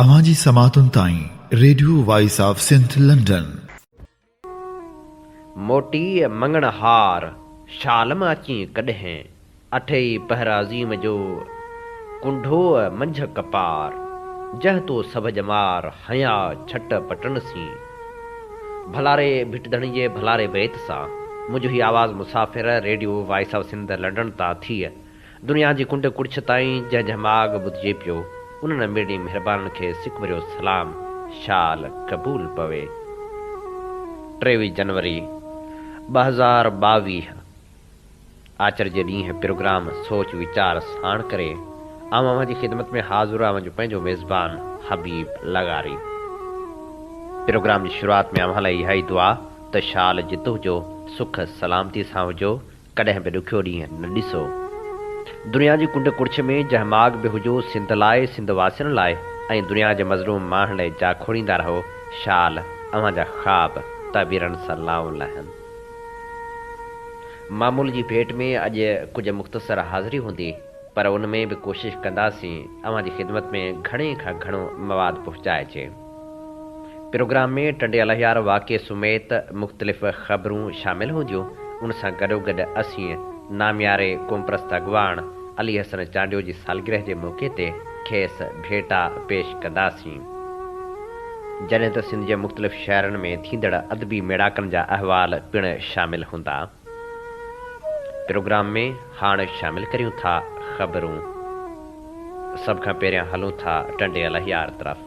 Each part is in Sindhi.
اوهان جي سماعتن تائين radio voice of Sindh London. موٽيء مڱڻ هار شال مان اچين ڪڏهن اٺي پهر عظيم جو ڪنڍوء منجهه ڪپار جنهن تو سڀ ڄمار هنيا ڇٽ پٽڻ سين ڀلاري ڀٽ ڌڻي جي ڀلاري بيت سان منهنجو هي آواز مسافر radio voice of Sindh London تان ٿئي دنيا جي ڪنڊ ڪڙڇ تائين جنهن جنهن ماڳ ٻڌجي پيو انهن اميرڙين مهربانن کي سڪ ڀريو سلام شال قبول پوي. ٽيويهه جنوري ٻه هزار ٻاويهه آچر جي ڏينهن پروگرام سوچ ويچار ساڻ ڪري آئون اوهان جي خدمت ۾ حاضر اوهان جو پنهنجو ميزبان حبيب لغاري پروگرام جي شروعات ۾ اوهان لاء اها ئي دعا ته شال جتهه هجو سک سلامتي سان هجو ڪڏهن به ڏکيو ڏينهن نه ڏسو. دنيا جي ڪنڊ ڪڙڇ ۾ جنهن ماڳ به هجو سنڌ لاء، سنڌ واسين لاء ۽ دنيا جي مظلوم ماڻهن لاء جا کوڙيندا رهو شال اوهان جا خواب تعبيرن سان لائون لهن. معمول جي ڀيٽ ۾ اڄ ڪجهه مختصر حاضري هوندي پر ان ۾ به ڪوشش ڪنداسين اوهان جي خدمت ۾ گهڻي کان گهڻو مواد پهچائجي. پروگرام ۾ ٽنڊي الهيار واقعي سميت مختلف خبرون شامل هونديون، ان سان گڏوگڏ اسين نامياري قومپرست اڳواڻ علي حسن چانڊيو جي سالگرهه جي موقعي تي کيس ڀيٽا پيش ڪنداسين، جڏهن ته سنڌ جي مختلف شهرن ۾ ٿيندڙ ادبي ميڙاڪن جا احوال پڻ شامل هوندا. پروگرام ۾ هاڻ شامل ڪريون ٿا خبرون. سڀ کان پهريان هلون ٿا ٽنڊي الهيار طرف.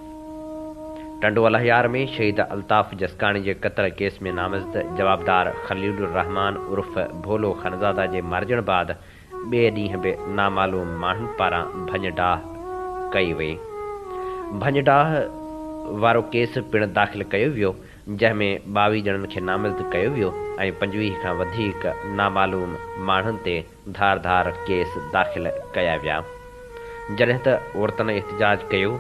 ٽنڊو الهيار ۾ شهيد الطاف جسڪاڻي جي قتل ڪيس ۾ نامزد جوابدار خليل الرحمان عرف ڀولو خانزاده جي مارجڻ بعد ٻئي ڏينهن به نامعلوم ماڻهن پاران ڀڃ ڊاهه ڪئي وئي. ڀڃ ڊاهه وارو ڪيس پڻ داخل ڪيو ويو جنهن ۾ ٻاويهه ڄڻن کي نامزد ڪيو ويو ۽ پنجويهه کان وڌيڪ نامعلوم ماڻهن تي ڌار ڌار ڪيس داخل ڪيا ويا جڏهن ته عورتن احتجاج ڪيو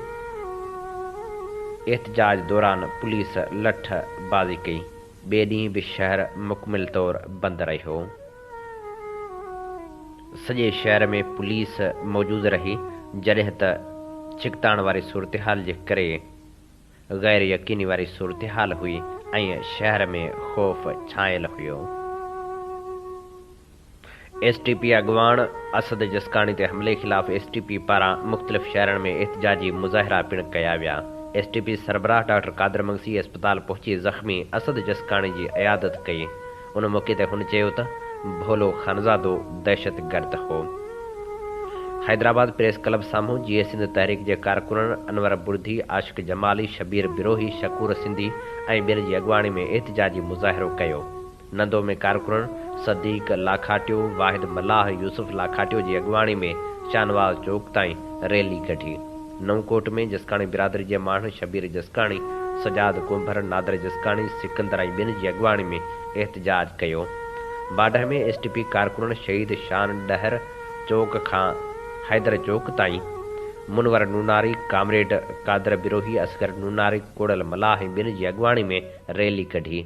احتجاج دوران پوليس لٺ بازي ڪئي ٻئي ڏينهن به شهر مڪمل طور بند رهيو سڄي شهر ۾ پوليس موجود رهي جڏهن ته ڇڪتاڻ واري صورتحال جي ڪري غير يقيني واري صورتحال هئي ۽ شهر ۾ خوف ڇانيل هيو. ايس ٽي پي اڳواڻ اسد جسڪاڻي تي حملي خلاف ايس ٽي پي پاران مختلف شهرن ۾ احتجاجي مظاهرا پڻ ڪيا ويا. ايس ٽي پي سربراهه ڊاڪٽر قادر مگسي اسپتال پهچي زخمي اسد جسڪاڻي جي عيادت ڪئي. ان موقعي تي هن چيو ته ڀولو خانزادو دهشتگرد هو. حيدرآباد پريس ڪلب سامهون جيئي سنڌ تحريڪ جي ڪارڪنن انور بڙڌي، عاشق جمالي، شبير بروهي، شڪور سنڌي ۽ ٻين جي اڳواڻي ۾ احتجاجي مظاهرو ڪيو. نندو ۾ ڪارڪنن صديق لاکاٽيو، واحد ملاح، يوسف لاکاٽيو جي اڳواڻي ۾ شاهنواز چوڪ تائين ريلي ڪڍي. نئون ڪوٽ ۾ جسڪاڻي برادري جي ماڻهن شبير جسڪاڻي، سجاد ڪنڀر، نادر جسڪاڻي، سڪندر ۽ ٻين جي اڳواڻي ۾ احتجاج ڪيو. باڊهه ۾ ايس ٽي پي ڪارڪنن شهيد شان ڏهر چوڪ کان حيدر چوڪ تائين منور نوناري، ڪامريڊ قادر بروهي، اصغر نوناري، ڪوڙل ملاح ۽ ٻين جي اڳواڻي ۾ ريلي ڪڍي.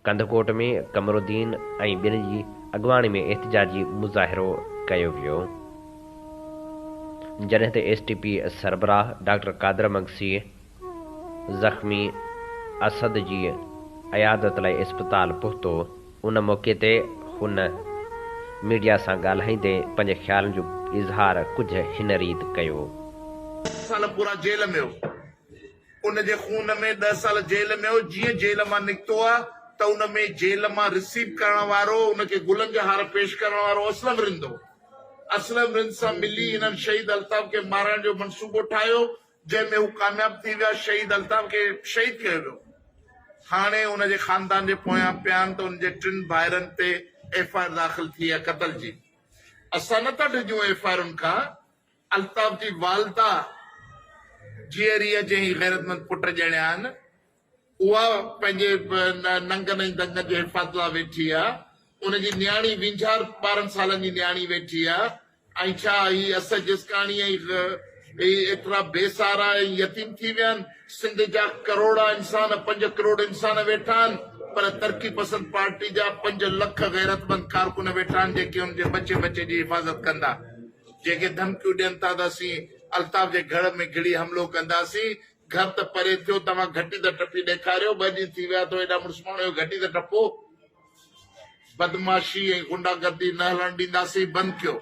ڪنڌڪوٽ ۾ قمرالدين ۽ ٻين جي اڳواڻي ۾ احتجاجي مظاهرو ڪيو ويو جڏهن ته ايس ٽي پي سربراهه ڊاڪٽر قادر مگسيء زخمي اسد جي عيادت لاء اسپتال پهتو ان موقعي تي هن ميڊيا سان ڳالهائيندي پنهنجي خيالن جو اظهار ڪجهه هن ريت ڪيو. ست سال پورا جيل ۾ هو. ان جي خون ۾ ڏهه سال جيل ۾ هو، جيئن جيل مان نڪتو آ ته ان ۾ جيل مان رسيو ڪرڻ وارو ان کي گلن جا هار پيش ڪرڻ وارو اسلم رند هو. اسلم رند سان ملي هنن شهيد الطاف کي مارڻ جو منصوبو ٺاهيو جنهن ۾ هو ڪامياب ٿي ويا شهيد الطاف کي شهيد ڪيو ويو. هاڻي ان جي خاندان جي پويان پيان ته ان جي ٽن ڀائرن تي ايف آء آر داخل ٿي آ قتل جي اسان نه ٿا ڊڄون ايف آء آرن کان. الطاف جي والده جيئريء جي هي غيرتمند پٽ ڄڻيا آهن. اها پنهنجي ننگن ۽ دنگن جي حفاظت لاء ويٺي آ. ان جي نياڻي وينجهار ٻارهن سالن جي نياڻي ويٺي آ ۽ ڇا هي اسهه جسڪاڻي ۽ هي ايترا بي سهارا ۽ يتيم ٿي ويا آهن. سنڌ جا ڪروڙها انسان پنج ڪروڙ انسان ويٺا آهن پر ترقي پسند پارٽي جا پنج لک غيرتمند ڪارڪن ويٺا آهن جيڪي ان جي ٻچي ٻچي جي حفاظت ڪندا. جيڪي ڌمڪيون ڏين ٿا ته اسين الطاف جي گهڙ ۾ گهڙي حملو ڪنداسين، گهر ته پري ٿيو توهان گهٽي ته ٽپي ڏيکاريو، ٻه ڏينهن ٿي ويا اٿو ايڏا مڙس ماڻهو اهو گهٽي ته ٽپو، بدمعاشي ۽ غنڊا گردي نه هلڻ ڏينداسين، بند ڪيو،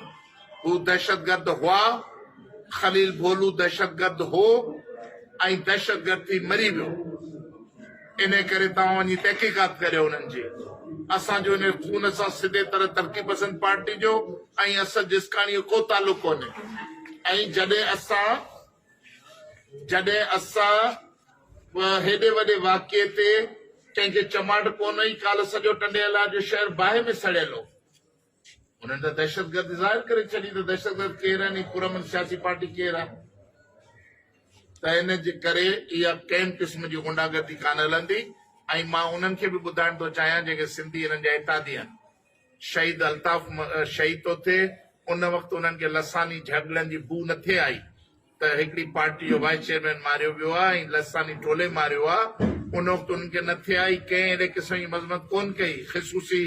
هو دهشتگرد هئا، خليل ڀولو دهشتگرد هو ۽ دهشتگرد ٿي مري ويو. انهيء ڪري توهان وڃي تحقيقات ڪريو انهن جي. اسان جو انهيء خون سان سڌي طرح ترقي پسند پارٽي جو ۽ اسد جسڪاڻي جو ڪو تعلق ڪونهي ۽ جڏهن اسان جڏهن اسان به هيڏي وڏي واقعي تي ڪنهن کي چماٽ ڪونه هئي ڪالهه سڄو ٽنڊي الار جو شهر باهه ۾ سڙيل هو. انهن ته دهشتگردي ظاهر ڪري ڇڏي ته دهشتگرد ڪير آهن ۽ پرامن سياسي پارٽي ڪير آهي ته ان جي ڪري اها ڪنهن قسم جي غنڊا گردي ڪانه هلندي ۽ مان انهن کي به ٻڌائڻ ٿو چاهيان جيڪي سنڌي انهن جا اتحادي آهن شهيد الطاف شهيد ٿو ٿئي ان وقت انهن کي لساني جهڳڙن جي بوء نٿي آئي ته هڪڙي پارٽي جو وائيس چيئرمين ماريو ويو آهي ۽ لساني ٽولي ماريو آهي ان وقت انهن کي نه ٿي آئي ڪنهن اهڙي قسم جي مذمت ڪونه ڪئي خصوصي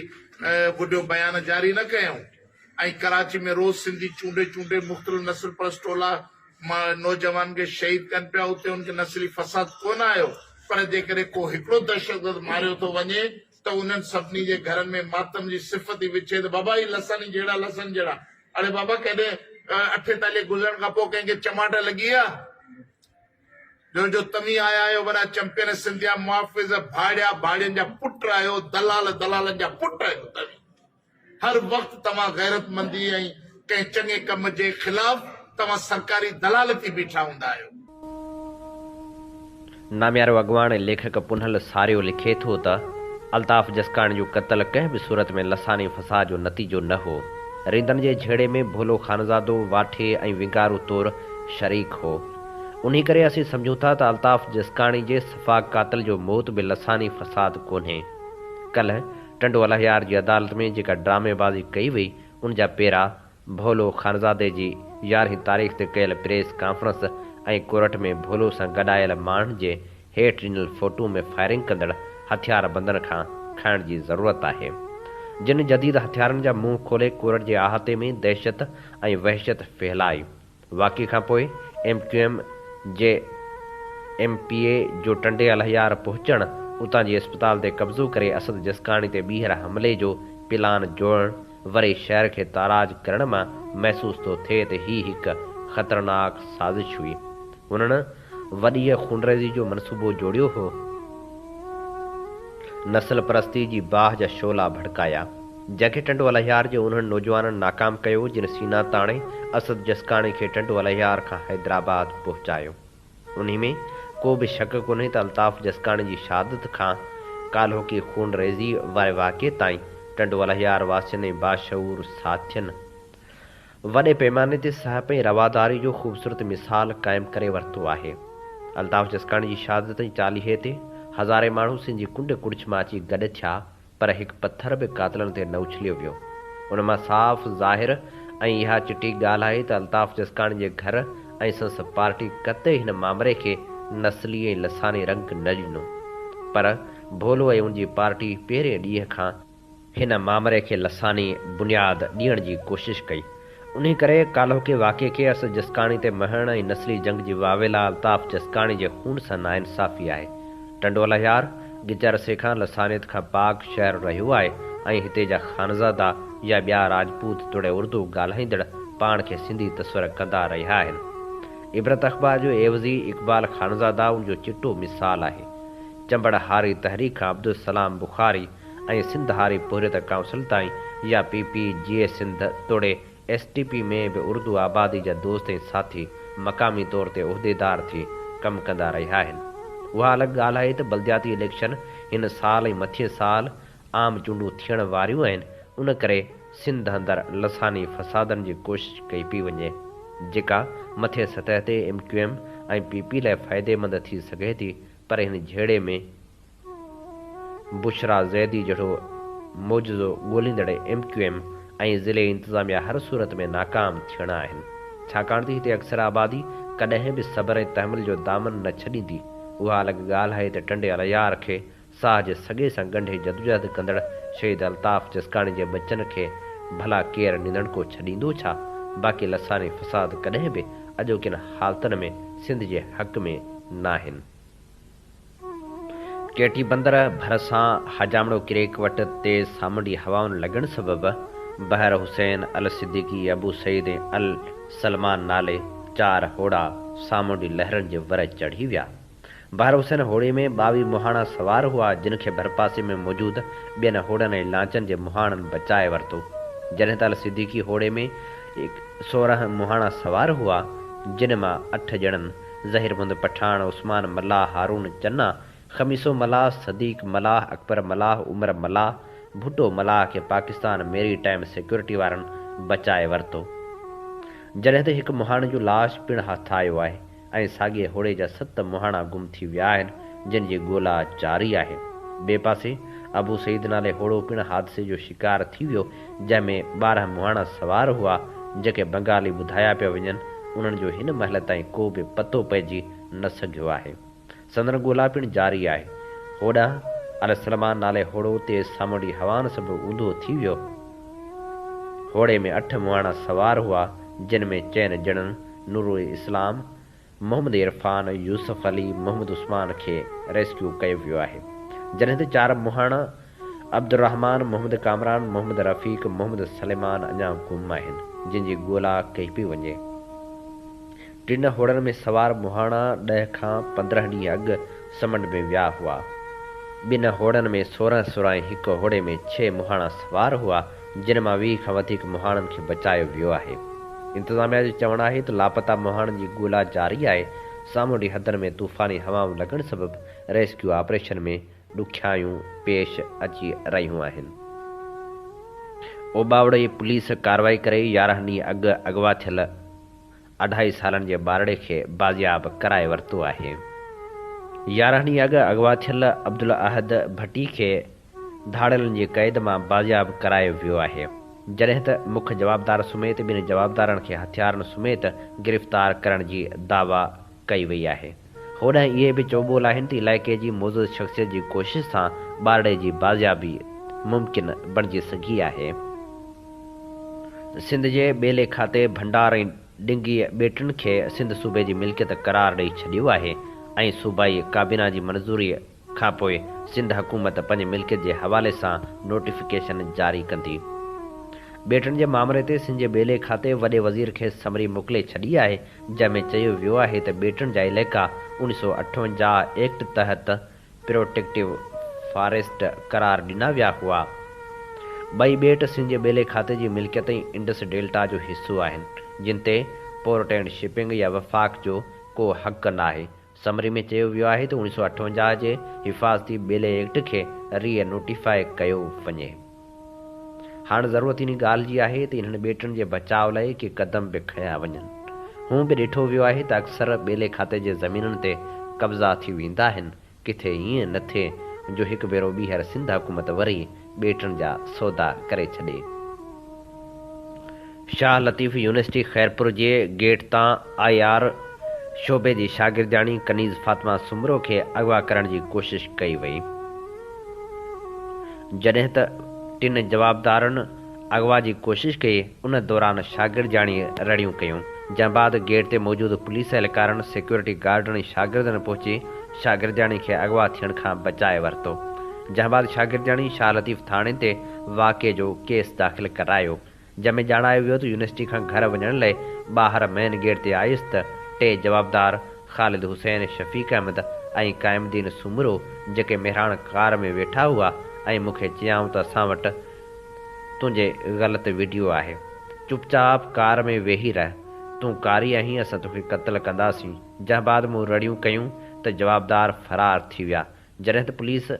وڊيو بيان جاري نه ڪيائون ۽ ڪراچي ۾ روز سنڌي چونڊي چونڊي مختلف نسل پرست ٽولا نوجوانن کي شهيد ڪن پيا اتي ان کي نسلي فساد ڪونه آيو پر جيڪڏهن ڪو هڪڙو دهشتگرد ماريو ٿو وڃي ته انهن سڀني جي گهرن ۾ ماتم جي صفت ئي وڇي ته بابا هي لسن ئي جهڙا لسن جهڙا. اڙي بابا ڪڏهن اٺيتاليهه گذرڻ کان پوء ڪنهن کي چماٽ لڳي آ؟ جو جو توهين آيا آهيو ورا چمپين سنڌيا محافظ ڀاڙيا ڀاڙين جا پٽ آهيو دلال دلالن جا پٽ آهيو توهين. هر وقت توهان غيرتمندي ۽ ڪنهن چڱي ڪم جي خلاف توهان سرڪاري دلال ٿي بيٺا هوندا آهيو. ناميارو اڳواڻ ۽ ليکڪ پنهل ساريو لکي ٿو ته، الطاف جسڪاڻي جو قتل ڪنهن به صورت ۾ لساني فساد جو نتيجو نه هو. ريندن جي جهيڙي ۾ ڀولو خانزادو، واٺي ۽ وينگارو طور شريڪ هو. انهي ڪري اسين سمجهون ٿا ته الطاف جسڪاڻي جي سفاڪ قاتل جو موت به لساني فساد ڪونهي. ڪلهه ٽنڊو الهيار جي عدالت ۾ جيڪا ڊرامي بازي ڪئي وئي ان جا پيرا ڀولو خانزادي جي يارهين تاريخ تي ڪيل پريس ڪانفرنس ۽ ڪورٽ ۾ ڀولو سان گڏ آيل ماڻهن جي هيٺ ڏنل فوٽو ۾ فائرنگ ڪندڙ هٿيار بندن کان کائڻ جي ضرورت آهي جن جديد هٿيارن جا منهن کولي ڪورٽ جي احاطي ۾ دهشت ۽ وحشت ڦهلائي واقعي کان پوء ايم ڪيو ايم جي ايم پي اي جو ٽنڊي الهيار پهچڻ، اتان جي اسپتال تي قبضو ڪري اسد جسڪاڻي تي ٻيهر حملي جو پلان جوڙڻ وري شهر کي تاراج ڪرڻ مان محسوس ٿو ٿئي ته هي هڪ خطرناڪ سازش هئي. هنن وڏيء خونريزيء جو منصوبو جوڙيو هو، نسل پرستيء جي باهه جا شعلا ڀڙڪايا، جنکي ٽنڊو الهيار جي انهن نوجوانن ناڪام ڪيو، جن سينا تاڻي اسد جسڪاڻي کي ٽنڊو الهيار کان حيدرآباد پهچايو. انهي ۾ ڪو به شڪ ڪونهي ته الطاف جسڪاڻي جي شهادت کان ڪالهوڪي خونريزيء واري واقعي تائين ٽنڊو الهيار واسين ۽ باشعور ساٿين وڏي پيماني تي سهپ ۽ رواداري جو خوبصورت مثال قائم ڪري ورتو آهي. الطاف جسڪاڻي جي شهادت جي چاليهي تي هزارين ماڻهو سنڌ جي ڪنڊ ڪڙڇ مان اچي گڏ ٿيا پر هڪ پٿر به قاتلن تي نه اڇليو ويو. ان مان صاف ظاهر ۽ اها چٽي ڳالهه آهي ته الطاف جسڪاڻي جي گهر ۽ سندس پارٽي قطعي هن مامري کي نسلي ۽ لساني رنگ نه ڏنو پر ڀولو ۽ ان جي پارٽي پهرين ڏينهن کان هن مامري کي لساني بنياد ڏيڻ جي ڪوشش ڪئي. انهي ڪري ڪالهوڪي واقعي کي اسد جسڪاڻي تي مهڻ ۽ نسلي جنگ جي واويلا الطاف جسڪاڻي جي خون سان ناانصافي آهي. ٽنڊو لهيار گچ عرصي کان لسانيت کان پاڪ شهر رهيو آهي ۽ هتي جا خانزادا يا ٻيا راجپوت توڙي اردو ڳالهائيندڙ پاڻ کي سنڌي تصور ڪندا رهيا آهن. عبرت اخبار جو عيوضي اقبال خانزادا ان جو چٽو مثال آهي. چنبڙ هاري تحريڪ کان عبدالسلام بخاري ۽ سنڌ هاري پورهيت ڪائونسل تائين يا پي پي جي سنڌ توڙي ايس ٽي پي ۾ به اردو آبادي جا دوست ۽ ساٿي مقامي طور تي عهديدار ٿي ڪم ڪندا رهيا آهن. اها الڳ ڳالهه آهي ته بلدياتي اليڪشن هن سال ۽ مٿين سال عام چونڊون ٿيڻ واريون آهن ان ڪري سنڌ اندر لساني فسادن جي ڪوشش ڪئي پئي وڃي جيڪا مٿين سطح تي M Q M ۽ P P لاء فائديمند ٿي سگهي ٿي پر هن جهيڙي ۾ بشريٰ زيدي جهڙو معجزو ڳوليندڙ ايم ڪيو ايم ۽ ضلعي انتظاميا هر صورت ۾ ناڪام ٿيڻا آهن ڇاڪاڻ تي هتي اڪثر آبادي ڪڏهن به صبر ۽ تحمل جو دامن نه ڇڏيندي اها الڳ ڳالهه آهي ته ٽنڊي الهيار کي ساهه جي سڳي سان ڳنڍي جدوجهد ڪندڙ شهيد الطاف جسڪاڻي جي ٻچن کي ڀلا ڪير ننڌڻڪو ڇڏيندو ڇا باقي لساني فساد ڪڏهن به اڄوڪين حالتن ۾ سنڌ جي حق ۾ ناهن. ٽي ٽي بندر ڀرسان حجامڙو ڪريڪ وٽ تيز سامونڊي هوائن لڳڻ سبب بحر حسين، الصديقي، ابو سعيد ۽ السلمان نالي چار هوڙا سامونڊي لهرن جي ور چڙهي ويا. بحر حسين هوڙي ۾ ٻاويهه مهاڻا سوار هئا جن کي ڀرپاسي ۾ موجود ٻين هوڙن ۽ لانچن جي مهاڻن بچائي ورتو جڏهن ته الصديقي هوڙي ۾ سورهن مهاڻا سوار هئا جن مان اٺ ڄڻن ظهير مند پٺاڻ، عثمان ملاح، هارون چنا، خميسو ملاح، صديق ملاح، اڪبر ملاح، عمر ملاح، ڀٽو ملاح کي پاڪستان ميري ٽائيم سيڪيورٽي وارن بچائي ورتو. جڏهن ته هڪ مهاڻي جو لاش پڻ هٿ آيو آهي ۽ ساڳئي هوڙي جا ست مهاڻا گم ٿي ويا آهن جن جي ڳولا جاري آهي. ٻئي پاسي ابو سعيد نالي هوڙو پڻ حادثي جو شڪار ٿي ويو جنهن ۾ ٻارهن مهاڻا سوار هئا، جيڪي بنگالي ٻڌايا پيا وڃن، انهن جو هن مهل تائين ڪو به پتو پئجي نه سگهيو آهي. سندن ڳولا پڻ جاري آهي. هوڏانهن علي سلمان نالي هوڙو تيز سامونڊي هوائن سبب اونڌو ٿي ويو. هوڙي ۾ اٺ مهاڻا سوار هئا، جن ۾ چئن ڄڻن نورالاسلام، محمد عرفان، يوسف علي، محمد عثمان کي ريسڪيو ڪيو ويو آهي، جڏهن ته چار مهاڻا عبدالرحمان، محمد ڪامران، محمد رفيق، محمد سليمان اڃا گم آهن، جن جي ڳولا ڪئي پئي وڃي. ٽن هوڙن ۾ سوار مهاڻا ڏهه کان پندرهن ڏينهن اڳ سمنڊ ۾ ويا هئا. ٻن هوڙن ۾ سورهن سورهن ۽ هڪ هوڙي ۾ ڇهه مهاڻا سوار هئا. جن مان ويهه کان وڌيڪ مهاڻن کي بچايو ويو آهي. انتظاميا جو چوڻ آهي ته لاپتا مهاڻن جي ڳولا جاري آهي، سامونڊي حدن ۾ طوفاني هوائون لڳڻ سبب ريسڪيو آپريشن ۾ ڏکيائيون پيش اچي رهيون آهن. اوٻاوڙي پوليس ڪارروائي ڪري يارهن ڏينهن اڳ اغوا ٿيل اڍائي سالن جي ٻارڙي کي بازياب ڪرائي ورتو آهي. يارهن ڏينهن اڳ اغوا ٿيل عبدالاحد ڀٽي کي ڌاڙيلن جي قيد مان بازياب ڪرايو ويو آهي جڏهن ته مک جوابدار سميت ٻن جوابدارن کي هٿيارن سميت گرفتار ڪرڻ جي دعويٰ ڪئي وئي آهي هوڏانهن اهي به چوٻول آهن ته علائقي جي معزز شخصيت جي ڪوشش سان ٻارڙي جي بازيابي ممڪن بڻجي سگهي آهي سنڌ جي ٻيلي کاتي ڀنڊار ۽ ڊنگيء ٻيٽن کي سنڌ صوبي جي ملڪيت قرار ڏئي ڇڏيو آهي ۽ صوبائي ڪابينا جي منظوري کانپوء سنڌ حڪومت پنهنجي ملڪيت جي حوالي سان نوٽيفڪيشن جاري ڪندي. ٻيٽن جي مامري تي سنڌ جي ٻيلي کاتي وڏي وزير کي سمري موڪلي ڇڏي آهي، جنهن ۾ چيو ويو آهي ته ٻيٽن جا علائقا اوڻ سؤ اٺونجاهه ايڪٽ تحت پروٽيڪٽو فاريسٽ قرار ڏنا ويا هئا. ٻئي ٻيٽ سنڌ جي ٻيلي کاتي جي ملڪيت ۽ انڊس ڊيلٽا جو حصو آهن، جن تي پورٽ اينڊ شپنگ يا وفاق جو ڪو حق ناهي. سمري ۾ چيو ويو آهي ته اوڻيھ سؤ اٺونجاھ جي حفاظتي ٻيلي ايڪٽ کي ري نوٽيفاء ڪيو وڃي. هاڻ ضرورت انهي ڳالھ جي آهي ته انهن ٻيٽن جي بچاء لاء ڪي قدم به کنيا وڃن. هونء به ڏٺو ويو آهي ته اڪثر ٻيلي کاتي جي زمينن تي قبضا ٿي ويندا آهن، ڪٿي ائين نه ٿئي جو هڪ ڀيرو ٻيهر سنڌ حڪومت وري ٻيٽن جا سودا ڪري ڇڏي. شاهه لطيف يونيورسٽي خيرپور جي گيٽ تان آء آر شعبي جي شاگردياڻي ڪنيز فاطمه سومرو کي اغوا ڪرڻ جي ڪوشش ڪئي وئي جڏهن ته ٽن جوابدارن اغوا جي ڪوشش ڪئي، ان دوران شاگردياڻي رڙيون ڪيون، جنهن بعد گيٽ تي موجود پوليس اهلڪارن، سيڪيورٽي گارڊن ۽ شاگردن پهچي شاگردياڻي کي اغوا ٿيڻ کان بچائي ورتو، جنهن بعد شاگردياڻي شاهه لطيف ٿاڻي تي واقعي جو ڪيس داخل ڪرايو، جنهن ۾ ڄاڻايو ويو ته يونيورسٽي کان گهر وڃڻ لئي ٻاهر مين گيٽ تي آيس ته ٽي جوابدار خالد حسين، شفيق احمد ۽ قائم الدين سومرو جيڪي مهراڻ ڪار ۾ ويٺا هئا ۽ مون کي چيائون ته اسان وٽ تنهنجي غلط ويڊيو آهي چپ چاپ ڪار ۾ ويهي رهه تون ڪاري آهين اسان توکي قتل ڪنداسين جنهن بعد مون رڙيون ڪيون ته جوابدار فرار ٿي ويا جڏهن ته پوليس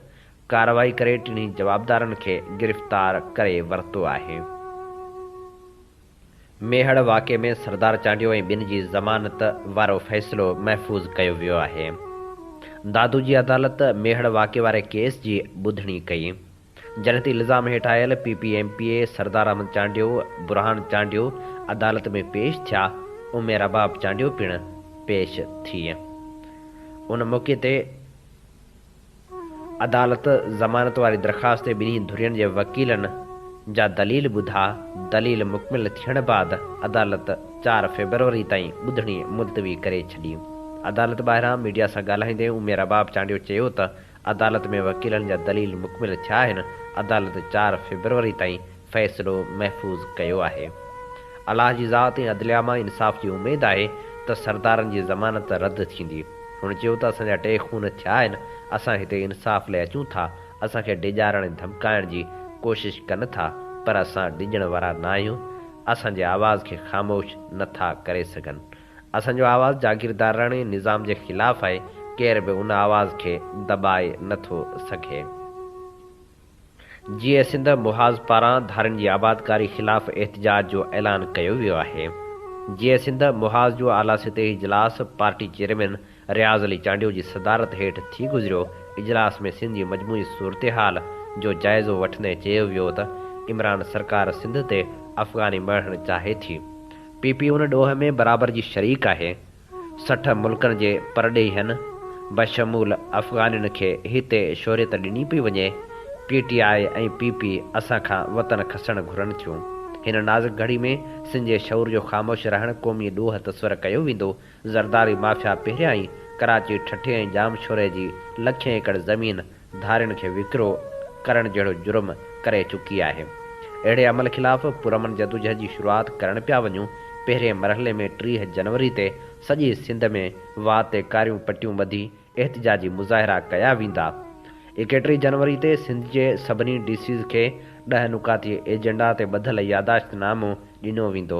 ڪارروائي ڪري ٽنهي جوابدارن کي گرفتار ڪري ورتو آهي. ميهڙ واقعي ۾ سردار چانڊيو ۽ ٻين جي ضمانت وارو فيصلو محفوظ ڪيو ويو آهي دادو جي عدالت ميهڙ واقعي واري ڪيس جي ٻڌڻي ڪئي. جنحتي الزام هيٺ آيل P P M P A Sardar Ahmed Chandio, Burhan Chandio عدالت ۾ پيش ٿيا ۽ ميراباب چانڊيو پڻ پيش ٿي ان موقعي تي عدالت ضمانت واري درخواست تي ٻنهي ڌرين جي وڪيلن جا دليل ٻڌا دليل مڪمل ٿيڻ بعد عدالت چار فيبروري تائين ٻڌڻي ملتوي ڪري ڇڏي عدالت ٻاهران ميڊيا سان ڳالهائيندي ميراباب چانڊيو چيو ته عدالت ۾ وڪيلن جا دليل مڪمل ٿيا آهن، عدالت چار فيبروري تائين فيصلو محفوظ ڪيو آهي. الله جي ذات ۽ عدليه مان انصاف جي اميد آهي ته سردارن جي ضمانت رد ٿيندي. هن چيو ته اسان جا ٽي خون ٿيا آهن، اسان هتي انصاف لاء اچون ٿا، اسان کي ڊيڄارڻ ۽ ڌمڪائڻ جي ڪوشش ڪن ٿا پر اسان ڊڄڻ وارا نه آهيون، اسان جي آواز کي خاموش نه ٿا ڪري سگهن. اسان جو آواز جاگيرداراڻي نظام جي خلاف آهي، ڪير به ان آواز کي دٻائي نه ٿو سگهي. جيئي سنڌ محاذ پاران ڌارين جي آبادڪاري خلاف احتجاج جو اعلان ڪيو ويو آهي. جيئي سنڌ محاذ جو اعليٰ سطحي اجلاس پارٽي چيئرمين رياض علي چانڊيو جي صدارت هيٺ ٿي گذريو اجلاس ۾ سنڌ جي مجموعي صورتحال جو جائزو وٺندي چيو ويو ته عمران سرڪار سنڌ تي افغاني مڙهڻ چاهي ٿي پي پي ان ڏوهه ۾ برابر جي شريڪ آهي سٺ ملڪن جي پرڏيهين بشمول افغانين کي هتي شهريت ڏني پئي وڃي P T I ۽ P P اسان کان وطن کسڻ گهرن ٿيون هن نازڪ گهڙي ۾ سنڌ جي شعور جو خاموش رهڻ قومي ڏوهه تصور ڪيو ويندو زرداري مافيا پهريان ئي ڪراچي، ٺٽي ۽ ڄامشوري جي لکين ايڪڙ زمين ڌارين کي وڪرو ڪرڻ جهڙو جرم ڪري چڪي آهي. اهڙي عمل خلاف پرامن جدوجهد جي شروعات ڪرڻ پيا وڃون، پهرين مرحلي ۾ ٽيهه جنوري تي سڄي سنڌ ۾ واهه تي ڪاريون پٽيون ٻڌي احتجاجي مظاهرا ڪيا ويندا. ايڪيٽيهه جنوري تي سنڌ جي سڀني ڊي سيز کي ڏهه نقاطي ايجنڊا تي ٻڌل ياداشت نامو ڏنو ويندو.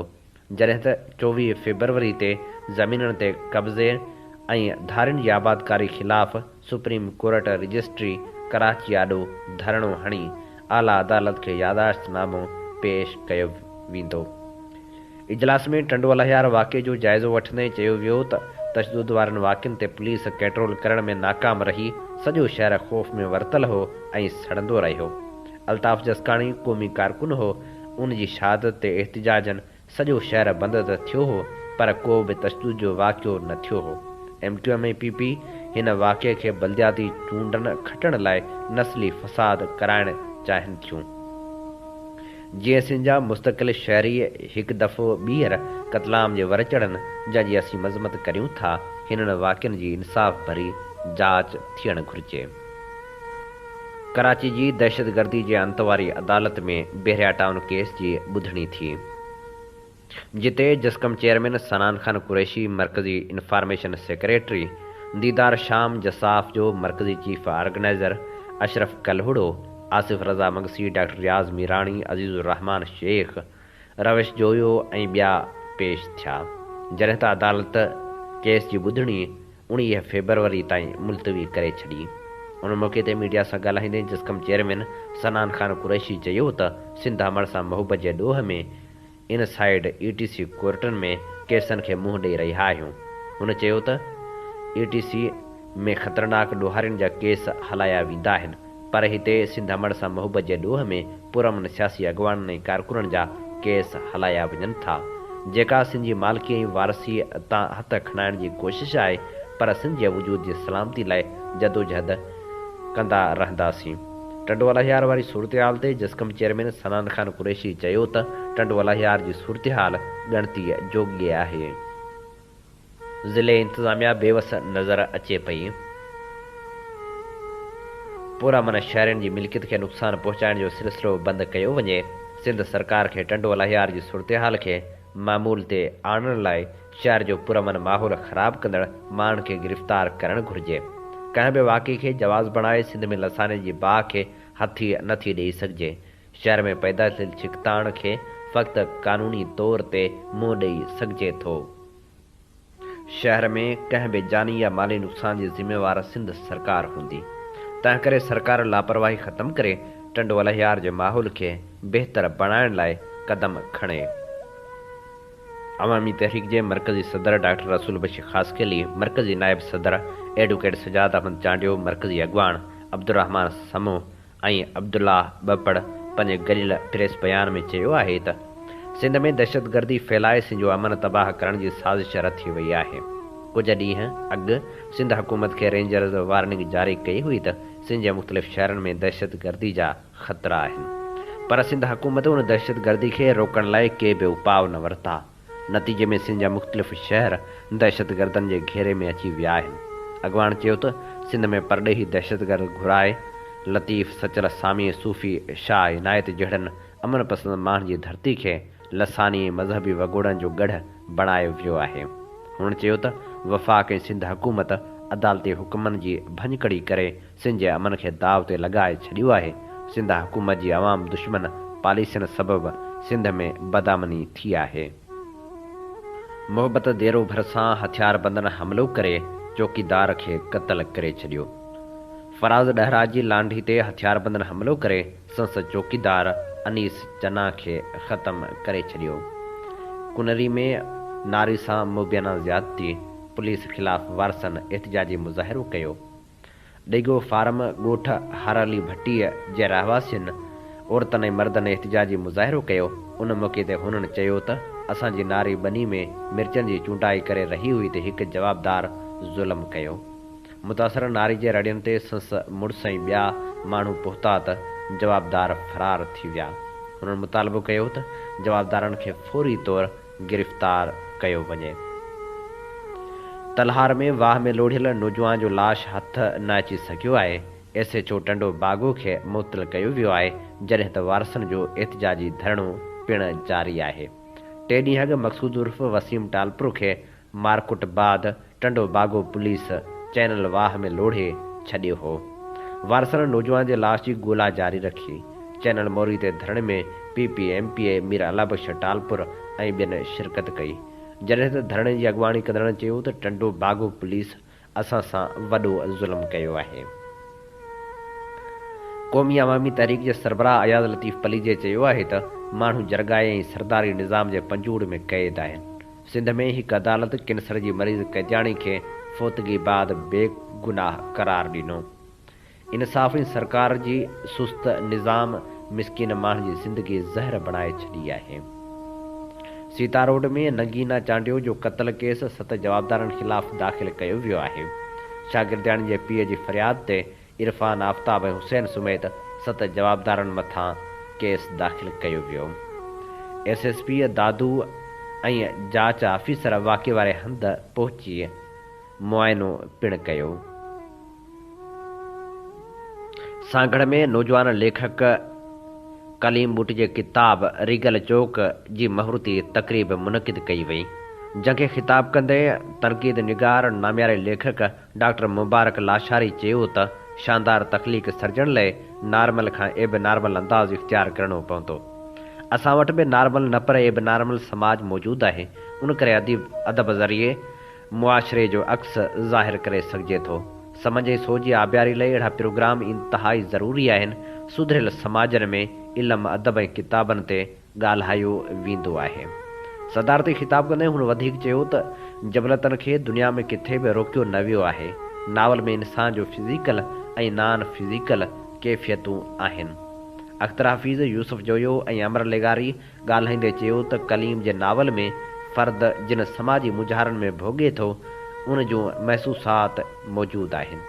جڏهن ته چوويهه فيبروري تي زمينن تي قبضي ۽ ڌارين جي آبادڪاري خلاف سپريم ڪورٽ رجسٽري ڪراچي آڏو ڌرڻو هڻي اعليٰ عدالت کي ياداشت نامو پيش ڪيو ويندو. اجلاس ۾ ٽنڊو الهيار واقعي جو جائزو وٺندي چيو ويو ته تشدد وارن واقعن تي پوليس ڪيٽرول ڪرڻ ۾ ناڪام رهي، سڄو شهر خوف ۾ ورتل هو ۽ سڙندو رهيو. الطاف جسڪاڻي قومي ڪارڪن هو، ان جي شهادت تي احتجاجن سڄو شهر بند ته ٿيو هو پر ڪو به تشدد جو واقعو نه ٿيو هو. M Q M ۽ P P هن واقعي کي بلدياتي چونڊن کٽڻ لاء نسلي فساد ڪرائڻ چاهين ٿيون. جيئن سنڌ جا مستقل شهري هڪ دفعو ٻيهر قتلام جي ور چڙهن جنهن جي اسين مذمت ڪريون ٿا، هنن واقعن جي انصاف ڀري جاچ ٿيڻ گهرجي. ڪراچي جي دهشتگردي جي انت واري عدالت ۾ بحريا ٽائون ڪيس جي ٻڌڻي ٿي، جتي جسقم چيئرمين سنان خان قريشي، مرڪزي انفارميشن سيڪريٽري ديدار شام، جساف جو مرڪزي chief organiser Ashraf Kalhoro, Asif Raza Magsi, doctor Riaz Mirani, Aziz الرحمان شيخ، روش جويو ۽ ٻيا پيش ٿيا، جڏهن ته عدالت ڪيس جي ٻڌڻي اڻيهه فيبروري تائين ملتوي ڪري ڇڏي. ان موقعي تي ميڊيا سان ڳالهائيندي جسقم چيئرمين صنعان خان قريشي چيو ته سنڌ امڙ سان محبت جي ڏوهه ۾ ان سائيڊ اي ٽي سي ڪورٽن ۾ ڪيسن کي منهن ڏئي رهيا آهيون. هن چيو ته اي ٽي سي ۾ خطرناڪ ڏوهارين جا ڪيس هلايا ويندا آهن. پر هتي سنڌ امڙ سان محبت جي ڏوهه ۾ پرامن سياسي اڳواڻن ۽ ڪارڪنن جا ڪيس هلايا وڃن ٿا. جيڪا سنڌ جي مالڪي ۽ وارثي تان هٿ کڻائڻ جي ڪوشش آهي پر سنڌ جي وجود جي سلامتي لاء جدوجهد ڪندا رهنداسين. ٽنڊو الاهيار واري صورتحال تي جسقم چيئرمين سنان خان قريشي چيو ته ٽنڊو الاهيار جي صورتحال ڳڻتي جوڳي آهي. ضلعي انتظاميا بيوس نظر اچي پئي، پر امن شهرين جي ملڪيت کي نقصان پهچائڻ جو سلسلو بند ڪيو وڃي، سنڌ سرڪار کي ٽنڊو الهيار جي صورتحال کي معمول تي آڻڻ لاء شهر جو پرامن ماحول خراب ڪندڙ ماڻهن کي گرفتار ڪرڻ گهرجي، ڪنهن به واقعي کي جواز بڻائي سنڌ ۾ لساني جي باهه کي هٿي نه ٿي ڏئي سگهجي. شهر ۾ پيدا ٿيل ڇڪتاڻ کي فقط قانوني طور تي منهن ڏئي سگهجي ٿو. شهر ۾ ڪنهن به جاني يا مالي نقصان جي ذميوار سنڌ سرڪار هوندي. تنهنڪري سرڪار لاپرواهي ختم ڪري ٽنڊو الهيار جي ماحول کي بهتر بڻائڻ لاء قدم کڻي. عوامي تحريڪ جي مرڪزي صدر ڊاڪٽر رسول بخش خاصخيلي، مرڪزي نائب صدر ايڊوڪيٽ سجاد احمد چانڊيو، مرڪزي اڳواڻ عبدالرحمان سمون، ۽ عبدالله ٻپڙ پنهنجي گريلا پريس بيان ۾ چيو آهي ته سنڌ ۾ دهشتگردي ڦهلائي سنڌ جو امن تباهه ڪرڻ جي سازش رٿي وئي آهي. ڪجهه ڏينهن اڳ سنڌ حڪومت کي رينجرز وارننگ جاري ڪئي هئي ته سنڌ جي مختلف شهرن ۾ دهشتگردي جا خطرا آهن پر سنڌ حڪومت ان دهشتگردي کي روڪڻ لاء ڪي به اپاء نه ورتا. نتيجي ۾ سنڌ جا مختلف شهر دهشتگردن جي گهيري ۾ اچي ويا آهن. اڳواڻ چيو ته سنڌ ۾ پرڏيهي دهشتگرد گهرائي لطيف سچل سامي صوفي شاهه عنايت جهڙن امن پسند ماڻهن جي ڌرتي کي لساني ۽ مذهبي وڳوڙن جو ڳڙهه بڻايو ويو آهي. هنن چيو ته وفاق ۽ سنڌ حڪومت عدالتي حڪمن جي ڀڃڪڙي ڪري سنڌ جي امن کي داء تي لڳائي ڇڏيو آهي، سنڌ حڪومت جي عوام دشمن پاليسين سبب سنڌ ۾ بدامني ٿي آهي، محبت ديرو ڀرسان هٿياربندن حملو ڪري چوڪيدار کي قتل ڪري ڇڏيو، فراز ڏهرا جي لانڍي تي هٿياربندن حملو ڪري سنس چوڪيدار انيس چنا کي ختم ڪري ڇڏيو، ڪنري ۾ ناري سان مبينا زيادتي، پوليس خلاف وارثن احتجاجي مظاهرو ڪيو. ڊيگو فارم ڳوٺ هارالي ڀٽيء جي رهواسين عورتن ۽ مردن احتجاجي مظاهرو ڪيو، ان موقعي تي هنن چيو ته اسان جي ناري ٻني ۾ مرچن جي چونڊائي ڪري رهي هئي ته هڪ جوابدار ظلم ڪيو، متاثره ناري جي رڙين تي سنس مڙس ۽ ٻيا ماڻهو پهتا ته جوابدار فرار ٿي ويا، هنن مطالبو ڪيو ته جوابدارن کي فوري طور. گرفتار ڪيو وڃي. تلهار ۾ واهه ۾ لوڙهيل نوجوان جو لاش هٿ نه اچي سگهيو آهي، S H O Tando Bago کي معطل ڪيو ويو آهي، جڏهن ته وارثن جو احتجاجي ڌرڻو پڻ جاري آهي. ٽي ڏينهن اڳ مقصود عرف وسيم ٽالپرو کي مارڪٽ بعد ٽنڊو باگو پوليس چينل واهه ۾ لوڙهي ڇڏيو هو. وارثن نوجوان جي لاش جي ڳولا جاري رکي. چينل موري تي ڌرڻي ۾ P P, M P A, Mir Allah Bakhsh Talpur ۽ ٻين شرڪت ڪئي. جڏهن ته ڌرڻي جي اڳواڻي ڪندڙن چيو ته ٽنڊو باگو پوليس اسان سان وڏو ظلم ڪيو آهي. قومي عوامي تحريڪ جي سربراهه اياز لطيف پليجي چيو آهي ته ماڻهو جرڳائي ۽ سرداري نظام جي پنجوڙ ۾ قيد آهن. سنڌ ۾ هڪ عدالت ڪينسر جي مريض قيدياڻي کي فوتگي بعد بي گناهه قرار ڏنو. ان صافين سرڪار جي سست نظام مسڪين ماڻهن جي زندگي زهر بڻائي ڇڏي آهي. سيتاروڊ ۾ نگينا چانڊيو جو قتل ڪيس ست جوابدارن خلاف داخل ڪيو ويو آهي. شاگردياڻي جي پيء جي فرياد تي عرفان آفتاب ۽ حسين سميت ست جوابدارن مٿان ڪيس داخل ڪيو ويو. ايس ايس پي دادو ۽ جاچ آفيسر واقعي واري هنڌ پهچي معائنو پڻ ڪيو. سانگهڙ ۾ نوجوان ليکڪ ڪليم ٻوٽ جي ڪتاب ريگل چوڪ جي مهورتي تقريب منعقد ڪئي وئي، جنهن کي خطاب ڪندي تنقيد نگار نامياري ليکڪ ڊاڪٽر مبارڪ لاشاري چيو ته شاندار تخليق سرجڻ لئه نارمل کان ايب نارمل انداز اختيار ڪرڻو پوندو. اسان وٽ به نارمل نه پر ايب نارمل سماج موجود آهي، ان ڪري اديب ادب ذريعي معاشري جو عڪس ظاهر ڪري سگهجي ٿو. سمن جي سوچ جي آبياري لاء اهڙا پروگرام انتهائي ضروري آهن. سڌريل سماجن ۾ علم، ادب ۽ ڪتابن تي ڳالهايو ويندو آهي. صدارتي خطاب ڪندي هن وڌيڪ چيو ته جبلتن کي دنيا ۾ ڪٿي به روڪيو نه ويو آهي. ناول ۾ انسان جو فزيڪل ۽ نان فزيڪل ڪيفيتون آهن. اخترحفيظ، يوسف جويو ۽ امر لغاري ڳالهائيندي چيو ته ڪليم جي ناول ۾ فرد جن سماجي مونجهارن ۾ ڀوڳي ٿو، ان جون محسوسات موجود آهن.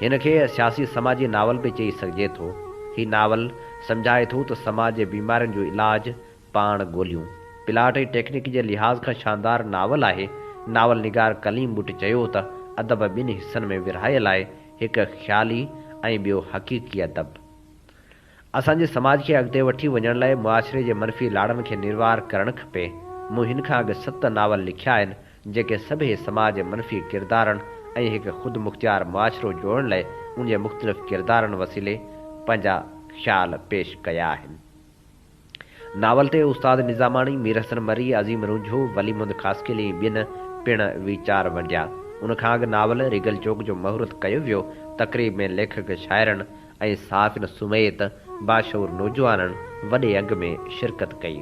هن کي سياسي سماجي ناول به چئي سگهجي ٿو. هي ناول سمجهائي ٿو ته سماج جي بيمارين جو علاج پاڻ ڳوليون. پلاٽ ۽ ٽيڪنڪ جي لحاظ کان شاندار ناول آهي. ناول نگار ڪليم ٻٽ چيو ته ادب ٻن حصن ۾ ورهايل آهي، هڪ خيالي ۽ ٻيو حقيقي ادب. اسان جي سماج کي اڳتي وٺي وڃڻ لاء معاشري جي منفي لاڙن کي نروار ڪرڻ کپي. مون هن کان اڳ ست ناول لکيا آهن، جيڪي سڀئي سماج جي منفي ڪردارن ۽ هڪ خودمختيار معاشرو جوڙڻ لاء ان جي مختلف ڪردارن وسيلي پنهنجا خيال پيش ڪيا آهن. ناول تي استاد نظاماڻي، مير حسن مري، عظيم رونجھو، ولي محمد خاصخيلي ۽ ٻين پڻ ويچار ونڊيا. ان کان اڳ ناول ريگل چوڪ جو مهورت ڪيو ويو. تقريب ۾ ليکڪ شاعرن ۽ صحافين سميت باشعور نوجوانن وڏي انگ ۾ شرڪت ڪئي.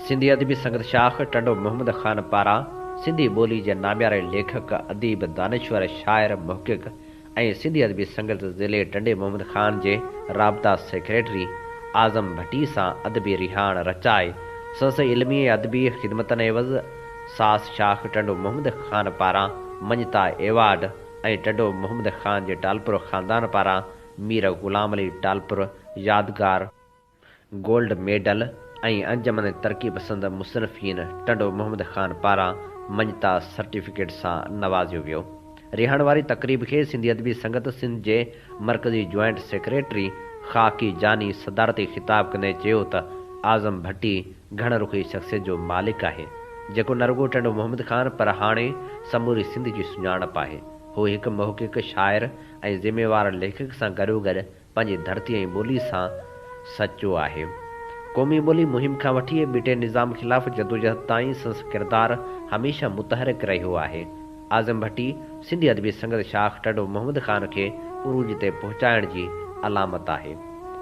سنڌي ادبي سنگت شاخ ٽنڊو محمد خان پاران سنڌي ٻولي جي نامياري ليکڪ، اديب، دانشور، شاعر، محقق ۽ سنڌي ادبي سنگت ضلعي ٽنڊي محمد خان جي رابطا سيڪريٽري اعظم ڀٽي سان ادبي رهاڻ رچائي سندس علمي ۽ ادبي خدمتن عيوض ساس شاخ ٽنڊو محمد خان پاران مڃتا ايوارڊ ۽ ٽنڊو محمد خان جي ٽالپر خاندان پاران مير غلام علي ٽالپر يادگار گولڊ ميڊل ۽ انجمن ترقي پسند مصنفين ٽنڊو محمد خان پاران مڃتا سرٽيفڪيٽ سان نوازيو ويو. رهاڻ واري تقريب کي سنڌي ادبي سنگت سنڌ جي مرڪزي جوائنٽ سيڪريٽري خاڪي جاني صدارتي خطاب ڪندي چيو ته اعظم ڀٽي گهڻ رخي شخصيت جو مالڪ آهي جيڪو نه رڳو ٽنڊو محمد خان پر هاڻي سموري سنڌ جي سڃاڻپ آهي. هو هڪ محقق، شاعر ۽ ذميوار ليکڪ سان گڏوگڏ پنهنجي ڌرتي ۽ ٻولي سان سچو آهي. قومي ٻولي مهم کان وٺي ٻيٽي نظام خلاف جدوجهد تائين سنس ڪردار هميشه متحرڪ رهيو آهي. اعظم ڀٽي سنڌي ادبي سنگت شاخ ٽنڊو محمد خان کي عروج تي پهچائڻ جي علامت آهي.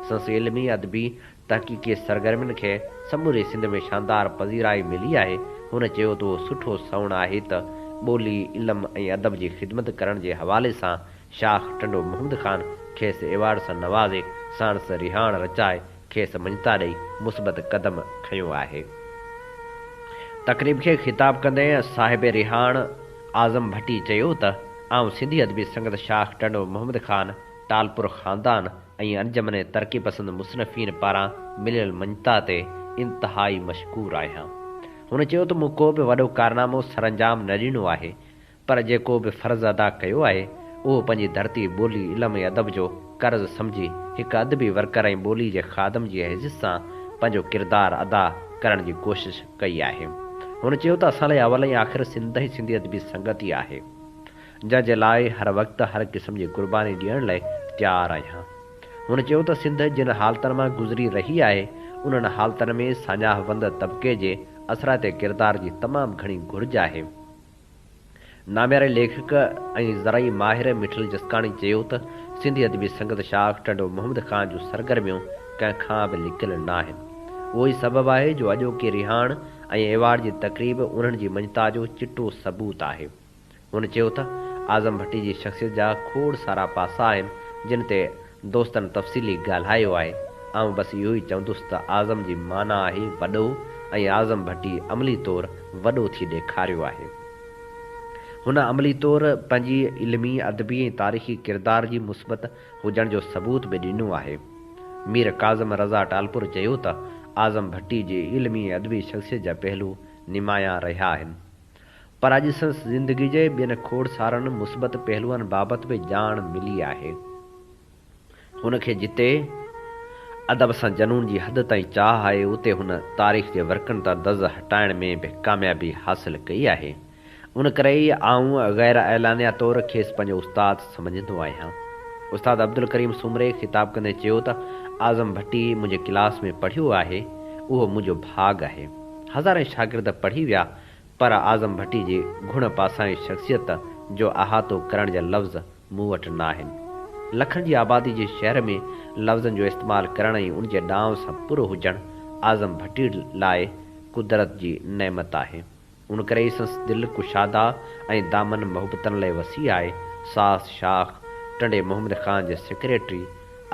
سنس علمي، ادبي، تحقيقي سرگرمين کي سموري سنڌ ۾ شاندار پذيرائي ملي آهي. هن چيو ته اهو سٺو سنئوڻ آهي ته ٻولي، علم ۽ ادب جي خدمت ڪرڻ جي حوالي سان شاخ ٽنڊو محمد خان کيس ايوارڊ سان نوازي ساڻس رهاڻ رچائي کيس مڃتا ڏئي مثبت قدم کنيو آهي. تقريب کي خطاب ڪندي صاحب رهاڻ اعظم ڀٽي چيو ته آئون سنڌي ادبي سنگت شاخ ٽنڊو محمد خان ٽالپر خاندان ۽ انجمن ترقي پسند مصنفين پاران مليل مڃتا تي انتهائي مشڪور آهيان. هن چيو ته مون ڪو به وڏو ڪارنامو سرانجام نه ڏنو آهي، پر جيڪو به فرض ادا ڪيو آهي، اهو پنهنجي ڌرتي، ٻولي، علم ۽ ادب جو قرض سمجهي هڪ ادبي ورڪر ۽ ٻولي جي خادم جي حيثيت سان پنهنجو ڪردار ادا ڪرڻ جي ڪوشش ڪئي آهي. هن چيو ته اسان لاء اول ۽ آخر سنڌ ۽ سنڌي ادبي سنگت ئي آهي. جنهن جي لاء هر وقت هر قسم جي قرباني ڏيڻ لاء تيار آهيان. هن چيو ته سنڌ جن حالتن مان گذري رهي آهي، انهن حالتن ۾ ساڃاهه وند طبقي جي اثرائتي ڪردار جي تمام گهڻي گهرج آهي. نامياري ليکڪ ۽ زرعي ماهر مٺل جسڪاڻي چيو ته سنڌي ادبي سنگت شاخ ٽنڊو محمد خان جون سرگرميون ڪنهن کان به لڪيل ناهن. اهو ئي سبب آهي جو اڄوڪي رهاڻ ۽ ايوارڊ جي تقريب انهن جي مڃتا جو چٽو ثبوت آهي. هن چيو ته اعظم ڀٽي جي شخصيت جا کوڙ سارا پاسا آهن جن تي دوستن تفصيلي ڳالهايو آهي، آئون بس اهو ئي چوندس ته اعظم جي معنيٰ آهي وڏو ۽ اعظم ڀٽي عملي طور وڏو ٿي ڏيکاريو آهي. هن عملي طور پنهنجي علمي، ادبي ۽ تاريخي ڪردار جي مثبت هجڻ جو ثبوت به ڏنو آهي. مير ڪاظم رضا ٽالپر چيو ته اعظم ڀٽي جي علمي ۽ ادبي شخصيت جا پهلو نمايان رهيا آهن. پر اڄ سندس زندگي جي ٻين کوڙ سارن مثبت پهلوئن بابت به ڄاڻ ملي آهي. هن کي جتي ادب سان جنون جي حد تائين چاهه آهي، اتي هن تاريخ جي ورقن تان دز هٽائڻ ۾ به ڪاميابي حاصل ڪئي آهي. ان ڪري ئي آئون غيراعلانيه طور کيس پنهنجو استاد سمجهندو آهيان. استاد عبدالڪريم سومري خطاب ڪندي چيو ته اعظم ڀٽي منهنجي ڪلاس ۾ پڙهيو آهي، اهو منهنجو ڀاڳ آهي. هزارين شاگرد پڙهي ويا، پر اعظم ڀٽي جي گهڻ پاسائين شخصيت جو احاطو ڪرڻ جا لفظ مون وٽ ناهن. لکن جي آبادي جي شهر ۾ لفظن جو استعمال ڪرڻ ۽ ان جي ڏانء سان پرو هجڻ اعظم ڀٽي لاء قدرت جي نعمت آهي. ان ڪري ئي سنس دل ڪشادا ۽ دامن محبتن لئه وسيع آهي. ساس شاخ ٽنڊي محمد خان جي سيڪريٽري،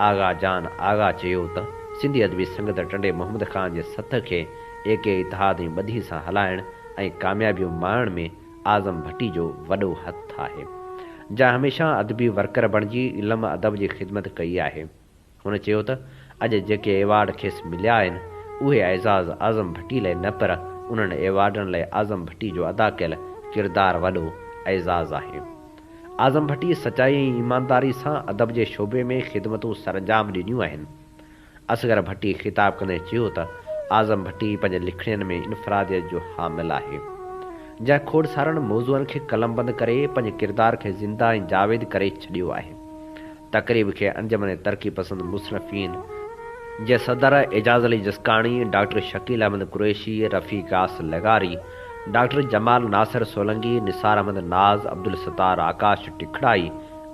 آغا جان آغا چيو ته سنڌي ادبي سنگت ٽنڊي محمد خان جي سٿ کي ايڪ اتحاد ۽ ٻڌي سان هلائڻ ۽ ڪاميابيون ماڻڻ ۾ اعظم ڀٽي جو وڏو هٿ آهي جنهن هميشه ادبي ورڪر بڻجي علم ادب جي خدمت ڪئي آهي هن چيو ته اڄ جيڪي ايوارڊ کيس مليا آهن اهي اعزاز اعظم ڀٽي لئي نه پر انهن ايوارڊن لئي اعظم ڀٽي جو ادا ڪيل ڪردار وڏو اعزاز آهي. اعظم ڀٽي سچائي ۽ ايمانداري سان ادب جي شعبي ۾ خدمتون سرانجام ڏنيون آهن. اصغر ڀٽي خطاب ڪندي چيو ته اعظم ڀٽي پنهنجي لکڻين ۾ انفراديت جو حامل آهي، جنهن کوڙ سارن موضوعن کي قلمبند ڪري پنهنجي ڪردار کي زنده ۽ جاويد ڪري ڇڏيو آهي. تقريب کي انجمن ترقي پسند مصنفين جي صدر اعجاز علي جسڪاڻي، ڊاڪٽر شڪيل احمد قريشي، رفيع غياث لغاري، doctor Jamal Nasir Solangi, Nisar Ahmed Naz, Abdul Sattar Akash Tikrai,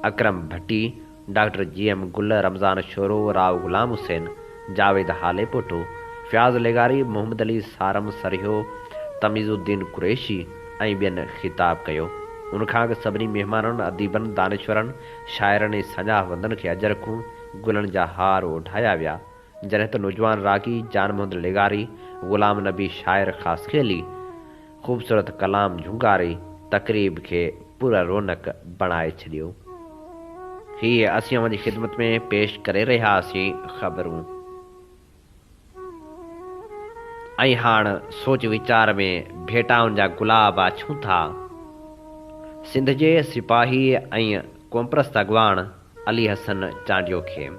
Akram Bhatti, doctor G M گل، رمضان شورو، راء غلام حسين، جاويد هاليپوٽو، فياض لغاري، محمد علي سارم سرهيو، تميز الدين قريشي ۽ ٻين خطاب ڪيو. ان کان اڳ سڀني مهمانن، اديبن، دانشورن، شاعرن ۽ سڃاهه وندن کي اجر کون گلن جا هار اوڍايا ويا، جڏهن ته نوجوان راڳي جان محمد لغاري، غلام نبي شاعر خاصخيلي خوبصورت ڪلام جهونگاري تقريب کي پر رونق بڻائي ڇڏيو. هي اسين اوهان جي خدمت ۾ پيش ڪري رهياسين خبرون. ۽ هاڻ سوچ ويچار ۾ ڀيٽائن جا گلاب آڇون ٿا. سنڌ جي سپاهيء ۽ قومپرست اڳواڻ علي حسن چانڊيو کي.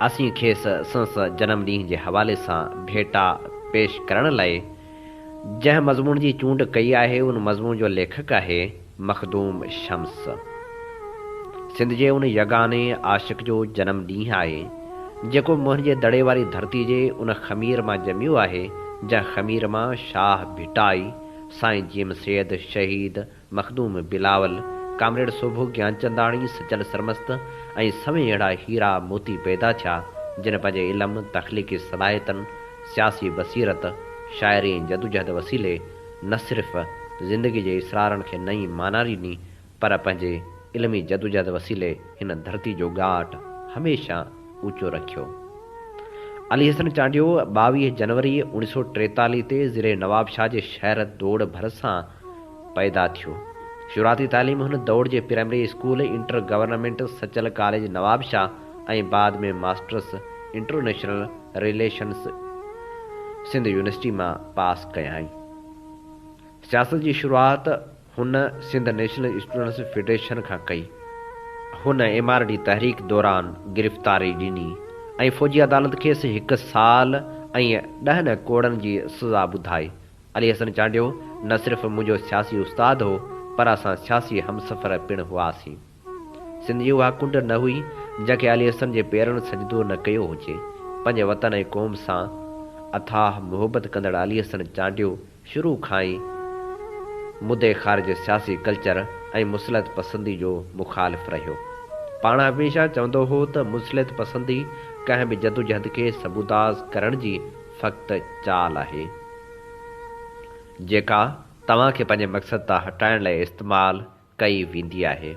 اسين کيس سنس جنم ڏينهن جي حوالي سان ڀيٽا پيش ڪرڻ لئه جنهن مضمون جي چونڊ ڪئي آهي ان مضمون جو ليکڪ آهي مخدوم شمس سنڌ جي ان يگاني عاشق جو جنم ڏينهن آهي، جيڪو منهنجي دڙي واري ڌرتي جي ان خمير مان ڄميو آهي، جنهن خمير مان شاهه ڀٽائي، سائين جيم سيد، شهيد مخدوم بلاول، ڪامريڊ سوڀو گيانچنداڻي، سچل سرمست ۽ سوين اهڙا هيرا موتي پيدا ٿيا، جن پنهنجي علم، تخليقي صلاحيتن، سياسي بصيرت، شاعري ۽ جدوجهد وسيلي، نه صرف زندگي جي اسرارن کي نئين معنيٰ ڏني پر پنهنجي علمي جدوجهد وسيلي هن ڌرتي جو ڳاٽ هميشه اوچو رکيو. علي حسن چانڊيو ٻاويهه جنوري اوڻيهه سؤ ٽيتاليهه تي ضلعي نوابشاهه جي شهر دوڙ ڀرسان پيدا ٿيو. شروعاتي تعليم هن دوڙ جي primary school, inter government Sachal college Nawabshah, ۽ بعد ۾ masters international relations Sindh university مان پاس ڪيائين. سياست جي شروعات هن سنڌ نيشنل اسٽوڊنٽس فيڊريشن کان ڪئي. هن ايم آر ڊي تحريڪ دوران گرفتاري ڏني ۽ فوجي عدالت کيس هڪ سال ۽ ڏهن ڪوڙن جي سزا ٻڌائي. علي حسن چانڊيو نه صرف منهنجو سياسي استاد هو پر اسان سياسي همسفر پڻ هئاسين. سنڌ جي اها ڪنڊ نه هئي، جنهن کي علي حسن جي پيرن سجدو نه ڪيو هجي. پنهنجي وطن ۽ قوم سان اٿاهه محبت ڪندڙ علي حسن چانڊيو شروع کان ئي مدي خارج سياسي ڪلچر ۽ مصلحت پسندي جو مخالف رهيو. پاڻ هميشه چوندو هو ته مصلحت پسندي ڪنهن به جدوجهد کي سبوتاز ڪرڻ جي فقط چال آهي، جيڪا توهان کي پنهنجي مقصد تان هٽائڻ لاء استعمال ڪئي ويندي آهي.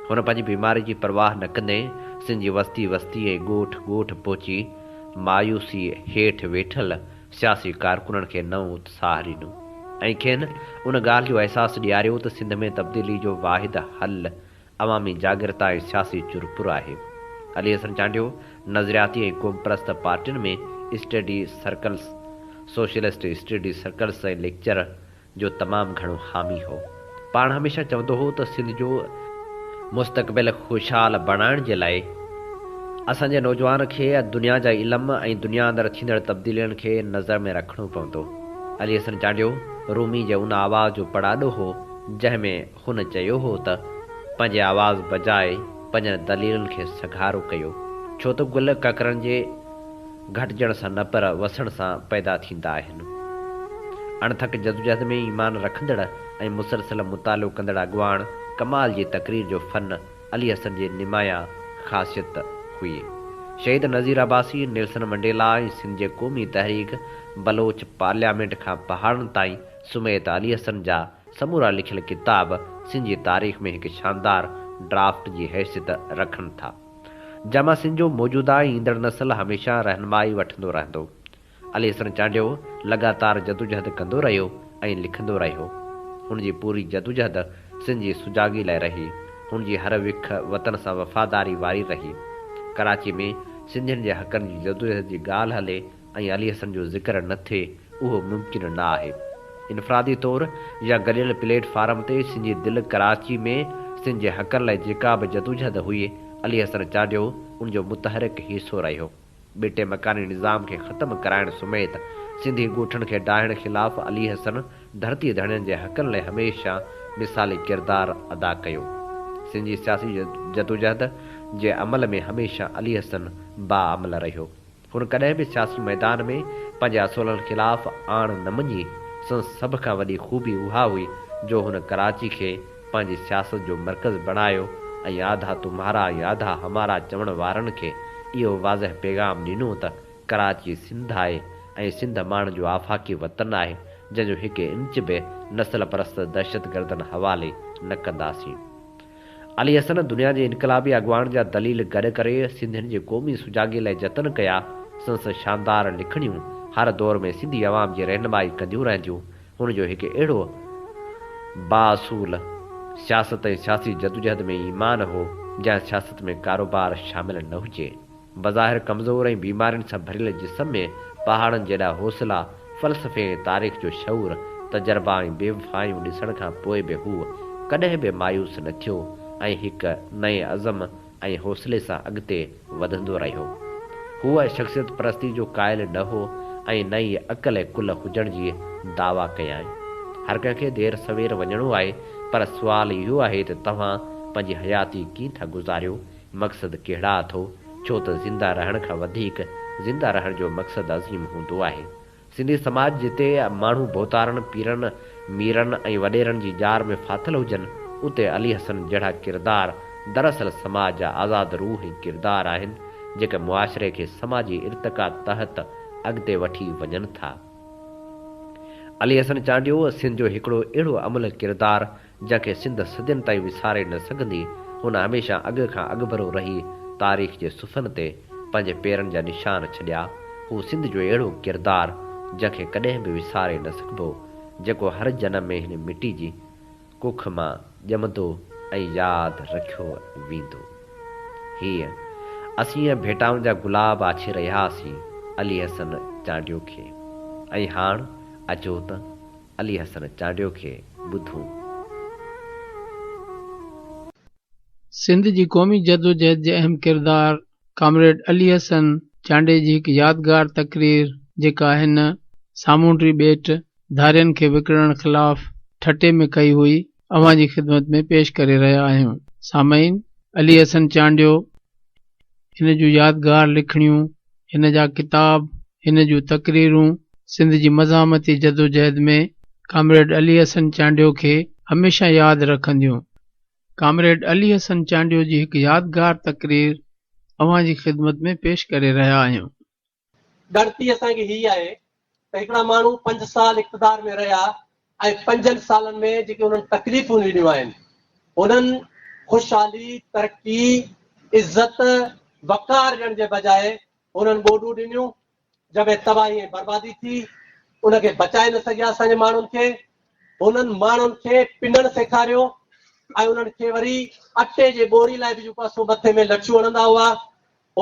هن پنهنجي بيماري جي پرواهه نه ڪندي سنڌ جي وستي وستي ۽ ڳوٺ ڳوٺ پهچي مايوسيء هيٺ ويٺل سياسي ڪارڪنن کي نئون اتساهه ڏنو ۽ کين ان ڳالهه جو احساس ڏياريو ته سنڌ ۾ تبديلي جو واحد حل عوامي جاڳرتا ۽ سياسي چرپر آهي. علي حسن چانڊيو نظرياتي ۽ قومپرست پارٽين ۾ study circles, socialist study circles ۽ lecture, جو تمام گهڻو حامي هو. پاڻ هميشه چوندو هو ته سنڌ جو مستقبل خوشحال بڻائڻ جي لاء اسان جي نوجوان کي دنيا جا علم ۽ دنيا اندر ٿيندڙ تبديلين کي نظر ۾ رکڻو پوندو. علي حسن چانڊيو رومي جي ان آواز جو پڙاڏو هو جنهن ۾ هن چيو هو ته پنهنجي آواز بجاء پنهنجن دليلن کي سگهارو ڪيو ڇو ته گل ڪڪرن جي گهٽجڻ سان نه پر وسڻ سان پيدا ٿيندا آهن. اڻٿڪ جدوجهد ۾ ايمان رکندڙ ۽ مسلسل مطالعو ڪندڙ اڳواڻ ڪمال جي تقرير جو فن علي حسن جي نمايان خاصيت هئي. شهيد نذير عباسي، نيلسن منڊيلا ۽ سنڌ جي قومي تحريڪ، بلوچ پارليامينٽ کان پهاڙن تائين سميت علي حسن جا سمورا لکيل ڪتاب سنڌ جي تاريخ ۾ هڪ شاندار ڊرافٽ جي حيثيت رکن ٿا. ڄاماسين جو موجوده ۽ ايندڙ نسل هميشه رهنمائي وٺندو رهندو. علي حسن چانڊيو لڳاتار جدوجهد ڪندو رهيو ۽ لکندو رهيو. هن جي پوري جدوجهد سنڌ جي سجاڳي لاء رهي. هن جي هر وک وطن سان وفاداري واري رهي. ڪراچي ۾ سنڌين جي حقن جي جدوجهد جي ڳالهه هلي ۽ علي حسن جو ذڪر نه ٿئي اهو ممڪن نه آهي. انفرادي طور يا گڏيل پليٽ فارم تي سنجي دل ڪراچي ۾ سنڌ جي حقن لاء جيڪا به جدوجهد هئي علي حسن چانڊيو ان جو متحرڪ حصو رهيو. ٻيٽي مڪاني نظام کي ختم ڪرائڻ سميت سنڌي ڳوٺن کي ڊاهڻ خلاف علي حسن ڌرتي ڌڻين جي حقن لاء هميشه مثالي ڪردار ادا ڪيو. سنجي سياسي جدوجهد جي عمل ۾ هميشه علي حسن باعمل رهيو. هن ڪڏهن به سياسي ميدان ۾ پنهنجي اصولن خلاف آڻ نه مڃي، سندس سڀ کان وڏي خوبي اها هئي جو هن ڪراچي کي پنهنجي سياست جو مرڪز بڻايو ۽ آڌا تمهارا ۽ آڌا همارا چوڻ وارن کي اهو واضح پيغام ڏنو ته ڪراچي سنڌ آهي ۽ سنڌ ماڻهن جو آفاقي وطن آهي جنهن جو هڪ انچ به نسل پرست دهشتگردن حوالي نه ڪنداسين. علي حسن دنيا جي انقلابي اڳواڻ جا دليل گڏ ڪري سنڌين جي قومي سجاڳي لاء جتن ڪيا، سنس شاندار لکڻيون هر دور ۾ سنڌي عوام جي رهنمائي ڪنديون رهنديون، هن جو هڪ اهڙو بااصول سياست ۽ سياسي جدوجهد ۾ ايمان هو، جنهن سياست ۾ ڪاروبار شامل نه هجي. بظاهر ڪمزور ۽ بيمارين سان ڀريل جسم ۾ پهاڙن جيڏا حوصلا، فلسفي ۽ تاريخ جو شعور، تجربا ۽ بيوفايون ڏسڻ کان پوء به هو ڪڏهن به مايوس نه ٿيو ۽ هڪ نئين عزم ۽ حوصلي سان اڳتي وڌندو رهيو. هو شخصيت پرستي جو قائل نه هو ۽ نه ئي عقل ڪل هجڻ جي دعويٰ ڪيائين. هر ڪنهن کي دير سوير وڃڻو آهي پر سوال اهو آهي ته توهان پنهنجي حياتي ڪيئن ٿا گذاريو مقصد ڪهڙا اٿو؟ ڇو ته زنده رهڻ کان وڌيڪ زنده رهڻ جو مقصد عظيم هوندو آهي. سنڌي سماج جتي ماڻهو ڀوتارن، پيرن، ميرن ۽ وڏيرن جي ڄار ۾ ڦاٿل هجن، اتي علي حسن جهڙا ڪردار دراصل سماج جا آزاد روح ۽ ڪردار آهن، جيڪي معاشري کي سماجي ارتقا تحت اڳتي وٺي وڃن ٿا. علي حسن چانڊيو سنڌ جو هڪڙو اهڙو املهه ڪردار جنهن کي سنڌ صدين تائين وساري نه سگهندي، ان هميشه اڳ کان اڳڀرو رهي تاريخ جي صفحن تي پنهنجي پيرن جا نشان ڇڏيا. هو سنڌ جو اهڙو ڪردار جنهن کي ڪڏهن به وساري نه سگهبو، جيڪو هر جنم ۾ هن مٽي جي ڪک مان ڄمندو ۽ ياد رکيو ويندو. هيء اسين ڀيٽائن جا گلاب آڇي رهياسين علي حسن چانڊيو کي ۽ هاڻ اچو ته علي حسن چانڊيو کي ٻڌون. سنڌ جي قومي جدوجهد جي اهم ڪردار ڪامريڊ علي حسن چانڊئي جي هڪ يادگار تقرير جيڪا هن سامونڊي ٻيٽ ڌارين کي وڪڻڻ خلاف ٺٽي ۾ ڪئي هئي، اوهان جي خدمت ۾ پيش ڪري رهيا آهيون سامعين علي حسن چانڊيو هن جون يادگار لکڻيون هن جا ڪتاب هن جون تقريرون سنڌ جي مزاحمتي جدوجهد ۾ ڪامريڊ علي حسن چانڊيو کي هميشه ياد رکنديون ڪامريڊ علي حسن چانڊيو جي هڪ يادگار تقرير اوهان جي خدمت ۾ پيش ڪري رهيا آهيون. ڳڻتي اسان کي هي آهي ته هڪڙا ماڻهو پنج سال اقتدار ۾ رهيا ۽ پنجن سالن ۾ جيڪي انهن تڪليفون ڏنيون آهن انهن خوشحالي، ترقي، عزت، وقار ڏيڻ جي بجاء انهن ٻوڏون ڏنيون جنهن ۾ تباهي ۽ بربادي ٿي ان کي بچائي نه سگهيا اسان جي ماڻهن کي انهن ماڻهن کي پنڻ سيکاريو ۽ انهن کي وري اٽي جي ٻوري لاء به جيڪو اسو مٿي ۾ لٺيون هڻندا هئا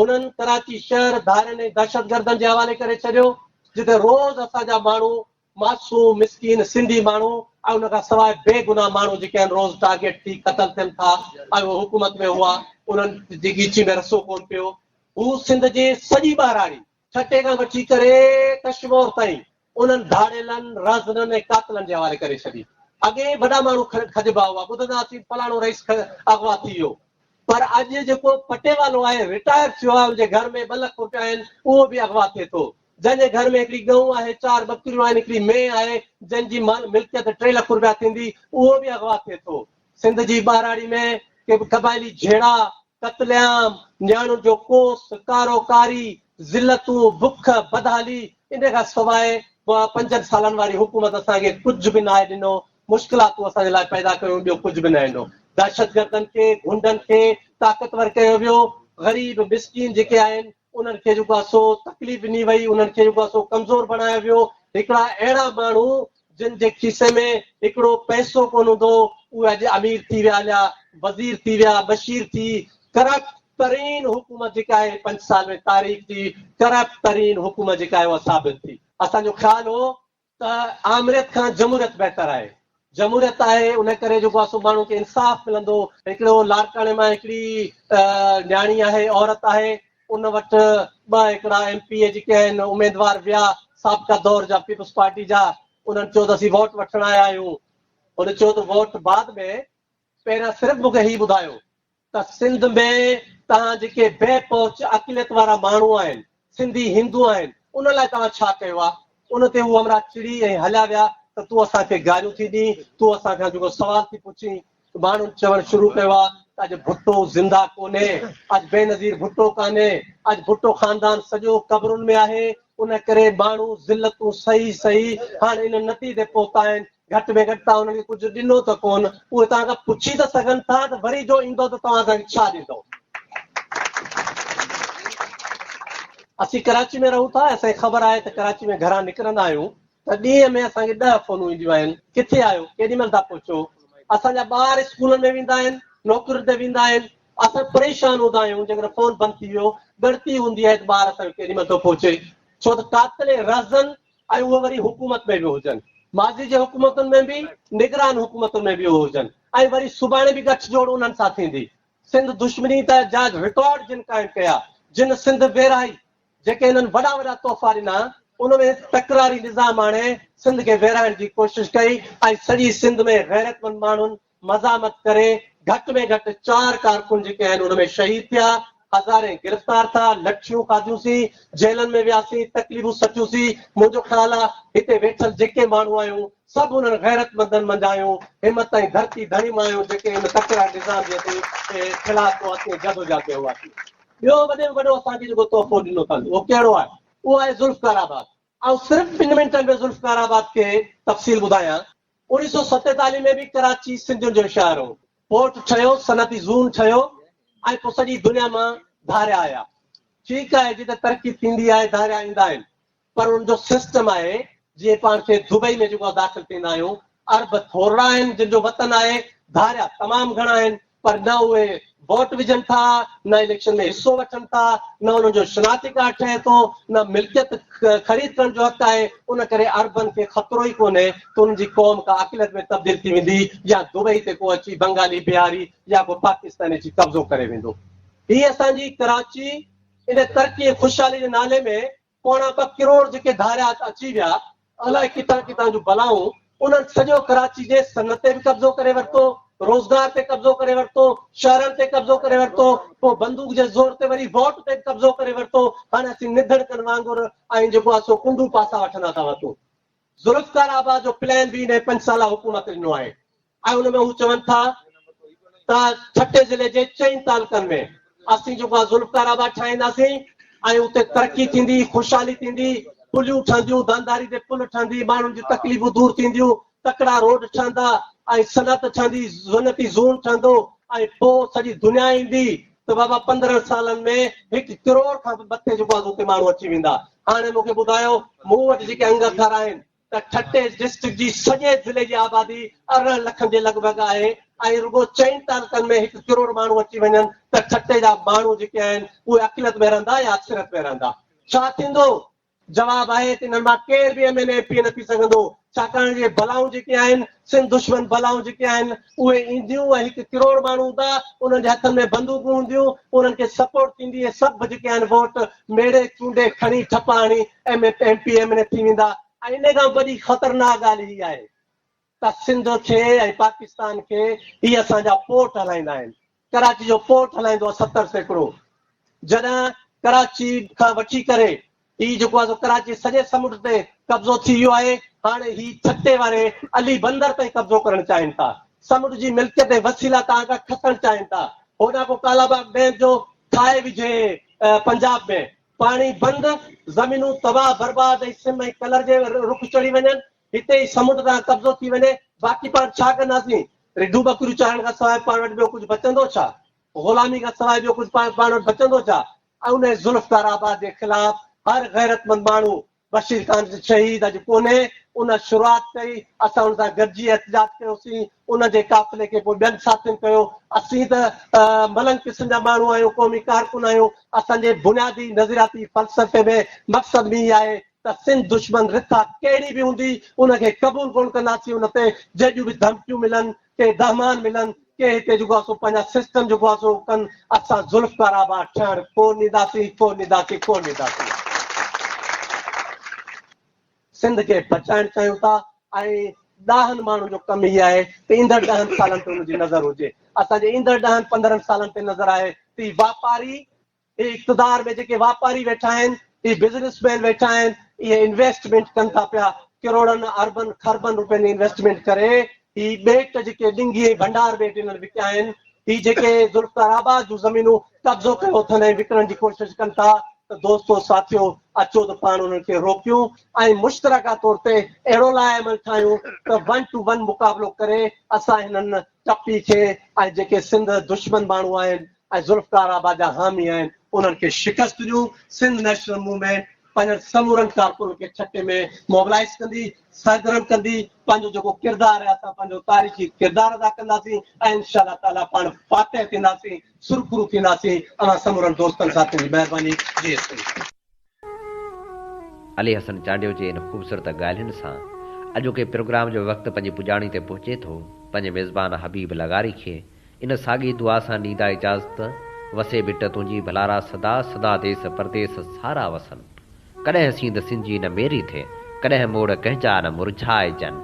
انهن ڪراچي شهر ڌارين ۽ دهشتگردن جي حوالي ڪري ڇڏيو جتي روز اسان جا ماڻهو معصوم مسڪين سنڌي ماڻهو ۽ ان کان سواء بي گناهه ماڻهو جيڪي آهن روز ٽارگيٽ ٿي قتل ٿين ٿا ۽ اهي حڪومت ۾ هئا انهن جي ڳيچي ۾ رسو ڪون پيو هو سنڌ جي سڄي ٻهراڙي ٺٽي کان وٺي ڪري ڪشمور تائين انهن ڌاڙيلن، رهزنن ۽ قاتلن جي حوالي ڪري ڇڏي. اڳي ئي وڏا ماڻهو کڄبا هئا، ٻڌندا هئاسين فلاڻو رئيس اغوا ٿي ويو، پر اڄ جيڪو پٽيوالو آهي، رٽائر ٿيو آهي، ان جي گهر ۾ ٻه لک روپيا آهن، اهو به اغوا ٿئي ٿو. جنهن جي گهر ۾ هڪڙي ڳئون آهي، چار ٻڪريون آهن، هڪڙي مينهن آهي، جنهن جي ملڪيت ٽي لک روپيا ٿيندي، اهو به اغوا ٿئي ٿو. سنڌ جي ٻهراڙي ۾ قبائلي جهيڙا، قتل عام، نياڻين جو ڪوس، ڪارو ڪاري، ذلتون، بک، بدحالي، ان کان سواء پوئان پنجن سالن واري حڪومت اسان کي ڪجهه به ناهي ڏنو، مشڪلاتون اسان جي لاء پيدا ڪيون، ٻيو ڪجهه به نه ڏنو. دهشتگردن کي، غنڊن کي طاقتور ڪيو ويو، غريب مسڪين جيڪي آهن انهن کي جيڪو آهي سو تڪليف ڏني وئي، انهن کي جيڪو آهي سو ڪمزور بڻايو ويو، هڪڙا اهڙا ماڻهو، جن جي کيسي ۾ هڪڙو پئسو ڪونه هوندو اهي اڄ امير ٿي ويا يا وزير ٿي ويا مشير ٿي ڪرپٽ ترين حڪومت جيڪا آهي پنج سال ۾ تاريخ جي ڪرپٽ ترين حڪومت جيڪا آهي اها ثابت ٿي. اسان جو خيال هو ته آمريت کان جمهوريت بهتر آهي جمهوريت آهي ان ڪري جيڪو آهي سو ماڻهن کي انصاف ملندو هڪڙو لاڙڪاڻي مان هڪڙي نياڻي آهي عورت آهي ان وٽ ٻه هيڪڙا ايم پي اي جيڪي آهن اميدوار ويا سابقه دور جا پيپلز پارٽي جا انهن چيو ته اسين ووٽ وٺڻ آيا آهيون هن چيو ته ووٽ بعد ۾ پهريان صرف مونکي هي ٻڌايو ته سنڌ ۾ توهان جيڪي بي پهچ اقليت وارا ماڻهو آهن سنڌي هندو آهن ان لاء توهان ڇا ڪيو آهي ان تي هو همراهه چڙي ۽ هليا ويا ته تون اسان کي گاريون ٿي ڏين تون اسان کان جيڪو سوال ٿي پڇين ماڻهن چوڻ شروع ڪيو آهي ته اڄ ڀٽو زنده ڪونهي، اڄ بينظير ڀٽو ڪانهي، اڄ ڀٽو خاندان سڄو قبرن ۾ آهي، ان ڪري ماڻهو ذلتون سهي سهي هاڻ ان نتيجي پهتا آهن، گهٽ ۾ گهٽ توهان انهن کي ڪجهه ڏنو ته ڪونه، اهي توهان کان پڇي ته سگهن ٿا ته وري جو ايندو ته توهان اسان کي ڇا ڏيندو؟ اسين ڪراچي ۾ رهون ٿا ۽ اسان کي خبر آهي ته ڪراچي ۾ گهران نڪرندا آهيون، ته ڏينهن ۾ اسان کي ڏهه فونون اينديون آهن، ڪٿي آهيو، ڪيڏي مهل ٿا پهچو، اسان جا ٻار اسڪولن ۾ ويندا آهن، نوڪرين تي ويندا آهن، اسان پريشان هوندا آهيون، جيڪڏهن فون بند ٿي ويو، ڳڻتي هوندي آهي ته ٻار اسان جو ڪيڏي مهل ٿو پهچي، ڇو ته قاتل اهي رهزن ۽ اهي وري حڪومت ۾ به هجن، ماضي جي حڪومتن ۾ به، نگران حڪومتن ۾ به اهي هجن ۽ وري سڀاڻي به ڳٺ جوڙ انهن سان ٿيندي. سنڌ دشمني ته جا رڪارڊ جن قائم ڪيا، جن سنڌ ويرائي، جيڪي هنن وڏا وڏا تحفا ڏنا، ان ۾ تڪراري نظام آڻي سنڌ کي ويرائڻ جي ڪوشش ڪئي ۽ سڄي سنڌ ۾ غيرتمند ماڻهن مزاحمت ڪري گهٽ ۾ گهٽ چار ڪارڪن جيڪي آهن ان ۾ شهيد ٿيا، هزارين گرفتار ٿا، لٺيون کاڌيون سين، جيلن ۾ وياسين، تڪليفون سٺيون سين، منهنجو خيال آ هتي ويٺل جيڪي ماڻهو آهيون سڀ انهن غيرتمندن منجهايون همت ۽ ڌرتي ڌڻي مايون جيڪي ان تڪڙا نظام جي خلاف قوتي جدوجهد ۾ هئا سين. ٻيو وڏي ۾ وڏو اسان کي جيڪو تحفو ڏنو اٿن اهو ڪهڙو آهي؟ اهو آهي ذوالفقار آباد. آئون صرف ٻن منٽن ۾ ذوالفقار آباد کي تفصيل ٻڌايان. اوڻيهه سؤ ستيتاليهه ۾ به ڪراچي سنڌين جو شهر هو. پورٽ ٺهيو، صنعتي زون ٺهيو ۽ پوء سڄي دنيا مان ڌاريا آيا. ٺيڪ آهي جتي ترقي ٿيندي آهي ڌاريا ايندا آهن. پر ان جو سسٽم آهي جيئن پاڻ کي دبئي ۾ جيڪو داخل ٿيندا آهيون عرب ٿورڙا آهن جن جو وطن آهي ڌاريا تمام گهڻا آهن پر نه اهي ووٽ وجهن ٿا نه اليڪشن ۾ حصو وٺن ٿا نه انهن جو شناختي ڪارڊ ٺهي ٿو نه ملڪيت خريد ڪرڻ جو حق آهي ان ڪري عربن کي خطرو ئي ڪونهي ته انهن جي قوم ڪا اقليت ۾ تبديل ٿي ويندي يا دبئي تي ڪو اچي بنگالي بهاري يا ڪو پاڪستاني اچي قبضو ڪري ويندو هي اسان جي ڪراچي ان ترقي ۽ خوشحالي جي نالي ۾ پوڻا ٻه ڪروڙ جيڪي ڌاريا اچي ويا، الائي ڪٿان ڪٿان جون بلائون، انهن سڄو ڪراچي جي صنعت تي به قبضو ڪري ورتو، روزگار تي قبضو ڪري ورتو، شهرن تي قبضو ڪري ورتو، پوء بندوق جي زور تي وري ووٽ تي به قبضو ڪري ورتو، هاڻي اسين نڌڻڪن وانگر ۽ جيڪو آهي سو ڪنڊون پاسا وٺندا ٿا وتون. ذوالفقار آباد جو پلان به انهيء پنج سالا حڪومت ڏنو آهي. ۽ ان ۾ هو چون ٿا ته ٺٽي ضلعي جي چئن تعلقن ۾ اسين جيڪو آ ذوالفقار آباد ٺاهينداسين ۽ اتي ترقي ٿيندي خوشحالي ٿيندي پليون ٺهنديون دانداري تي پل ٺهندي ماڻهن جون تڪليفون دور ٿينديون تڪڙا روڊ ٺهندا ۽ صنعت ٺهندي صنعتي زون ٺهندو ۽ پوء سڄي دنيا ايندي ته بابا پندرهن سالن ۾ هڪ ڪروڙ کان به مٿي جيڪو آ اتي ماڻهو اچي ويندا هاڻي مون کي ٻڌايو مون وٽ جيڪي انگ اکر آهن ته ٺٽي ڊسٽرڪٽ جي سڄي ضلعي جي آبادي ارڙهن لکن جي لڳ ڀڳ آهي ۽ رڳو چئن تعلقن ۾ هڪ ڪروڙ ماڻهو اچي وڃن ته ٺٽي جا ماڻهو جيڪي آهن اهي عقليت ۾ رهندا يا اڪثريت ۾ رهندا؟ ڇا ٿيندو؟ جواب آهي ته انهن مان ڪير به M N A M P A نه ٿي سگهندو ڇاڪاڻ جو اهي بلائون جيڪي آهن سنڌ دشمن بلائون جيڪي آهن اهي اينديون ۽ هڪ ڪروڙ ماڻهو هوندا، انهن جي هٿن ۾ بندوقون هونديون، انهن کي سپورٽ ٿيندي ۽ سڀ جيڪي آهن ووٽ ميڙي چونڊي کڻي ٺپا هڻي M M P M N A ٿي ويندا ۽ انهي کان به وڏي خطرناڪ ڳالهه هي آهي ته سنڌ کي ۽ پاڪستان کي هي اسان جا پورٽ هلائيندا آهن. ڪراچي جو پورٽ هلائيندو آهي ستر سيڪڙو جڏهن ڪراچي کان وٺي ڪري هي جيڪو آهي سو ڪراچي سڄي سمنڊ تي قبضو ٿي ويو آهي هاڻي هي ڇٽي واري علي بندر تائين قبضو ڪرڻ چاهين ٿا سمنڊ جي ملڪيت ۽ وسيلا تان کان کسڻ چاهين ٿا هوڏان ڪو ڪالاباغ ڊيم جو ٺاهي وجهي پنجاب ۾ پاڻي بند زمينون تباهه برباد ۽ سم ۽ ڪلر جي رخ چڙهي وڃن هتي ئي سمنڊ تان قبضو ٿي وڃي، باقي پاڻ ڇا ڪنداسين؟ رڍون ٻڪريون چارڻ کان سواء پاڻ وٽ ٻيو ڪجهه بچندو ڇا؟ غلامي کان سواء ٻيو ڪجهه پاڻ پاڻ وٽ بچندو ڇا؟ انهيء ذوالفقار آباد جي خلاف هر غيرتمند ماڻهو بشير خان جو شهيد اڄ ڪونهي، ان شروعات ڪئي، اسان ان سان گڏجي احتجاج ڪيوسين، ان جي قافلي کي پوء ٻين ساٿين ڪيو. اسين ته ملنگ قسم جا ماڻهو آهيون، قومي ڪارڪن آهيون، اسان جي بنيادي نظرياتي فلسفي ۾ مقصد به اهي آهي ته سنڌ دشمن رٿا ڪهڙي به هوندي ان کي قبول ڪونه ڪنداسين ان تي جهڙيون به ڌمڪيون ملن ڪي دهمان ملن ڪي هتي جيڪو آسو پنهنجا سسٽم جيڪو آسو ڪن اسان ذوالفقار آباد ٺهڻ ڪونه ڏينداسين ڪونه ڏينداسين ڪونه ڏينداسين سنڌ کي بچائڻ چاهيون ٿا ۽ ڏاهن ماڻهن جو ڪم هي آهي ته ايندڙ ڏهن سالن تي ان جي نظر هجي اسان جي ايندڙ ڏهن پندرهن سالن تي نظر آهي ته هي واپاري اهي اقتدار ۾ جيڪي واپاري ويٺا آهن، اهي بزنس مين ويٺا آهن، اهي انويسٽمينٽ ڪن ٿا پيا، ڪروڙن، اربن، خربن روپين جي انويسٽمينٽ ڪري هي ٻيٽ جيڪي ڏنگي ۽ ڀنڊار ٻيٽ انهن وڪيا آهن، هي جيڪي ذوالفقار آباد جون زمينون قبضو ڪيو اٿن ۽ وڪڻڻ جي ڪوشش ڪن ٿا ته دوستو ساٿيو اچو ته پاڻ انهن کي روڪيون ۽ مشترڪه طور تي اهڙو لاء عمل ٺاهيون ته ون ٽو ون مقابلو ڪري اسان هنن ٽپي کي ۽ جيڪي سنڌ دشمن ماڻهو آهن ۽ ذوالفقار آباد جا حامي آهن انهن کي شڪست ڏيون، سنڌ نيشنل موومينٽ پنهنجن سمورن ڪارڪنن کي ٺٽي ۾ موبلائيز ڪندي، سرگرم ڪندي، پنهنجو جيڪو ڪردار آهي اسان پنهنجو تاريخي ڪردار ادا ڪنداسين ۽ انشاء الله تعاليٰ پاڻ فاتح ٿينداسين، سرخرو ٿينداسين، اوهان سمورن دوستن ساٿين جي مهرباني، جي سنڌ. علي حسن چانڊيو جي ان خوبصورت ڳالهين سان اڄوڪي پروگرام جو وقت پنهنجي پڄاڻي تي پهچي ٿو، پنهنجي ميزبان حبيب لغاري کي ان ساڳي دعا سان ڏيندا اجازت، وسي ڀٽ تنهنجي ڀلارا سدا سدا ديس پرديس سارا وسن، ڪڏهن سينڌ سنجي نه ميري ٿئي، ڪڏهن موڙ ڪنهنجا نه مرجهائجن.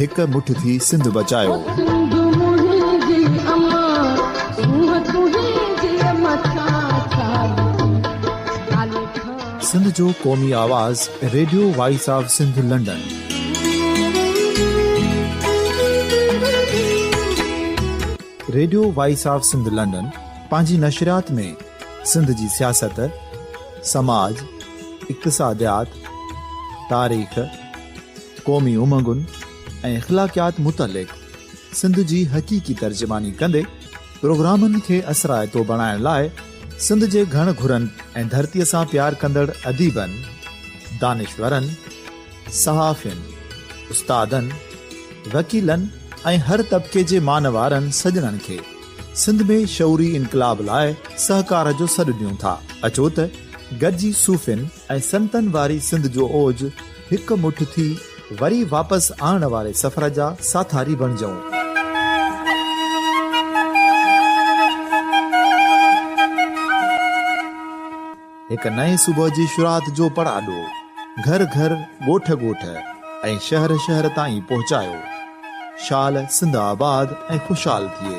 هڪ مٺ ٿي سنڌ بچايو. سنڌ جو قومي آواز radio voice of Sindh London. Radio voice of Sindh London پنهنجي نشريات ۾ سنڌ جي سياست، سماج، اقتصاديات، تاريخ، قومي امنگن ۽ اخلاقيات متعلق سنڌ جي حقيقي ترجماني ڪندي پروگرامن کي اثرائتو بڻائڻ لاء سنڌ جي گهڻ گهرن ۽ ڌرتيء سان پيار ڪندڙ اديبن، دانشورن، صحافين، استادن، وڪيلن ۽ هر طبقي جي مان وارن سڄڻن کي سنڌ ۾ شعوري انقلاب لاء سهڪار جو سڏ ڏيون ٿا. اچو ته گڏجي صوفين، ۽ سنتن واري سنڌ جو اوج هڪ مٺ ٿي وري واپس آڻڻ واري سفر جا ساٿاري بڻجئون. هڪ نئين صبح جي شروعات جو پڙاڏو گهر گهر، ڳوٺ ڳوٺ ۽ شهر شهر تائين پهچايو. شال سنڌ آباد ۽ خوشحال ٿئي.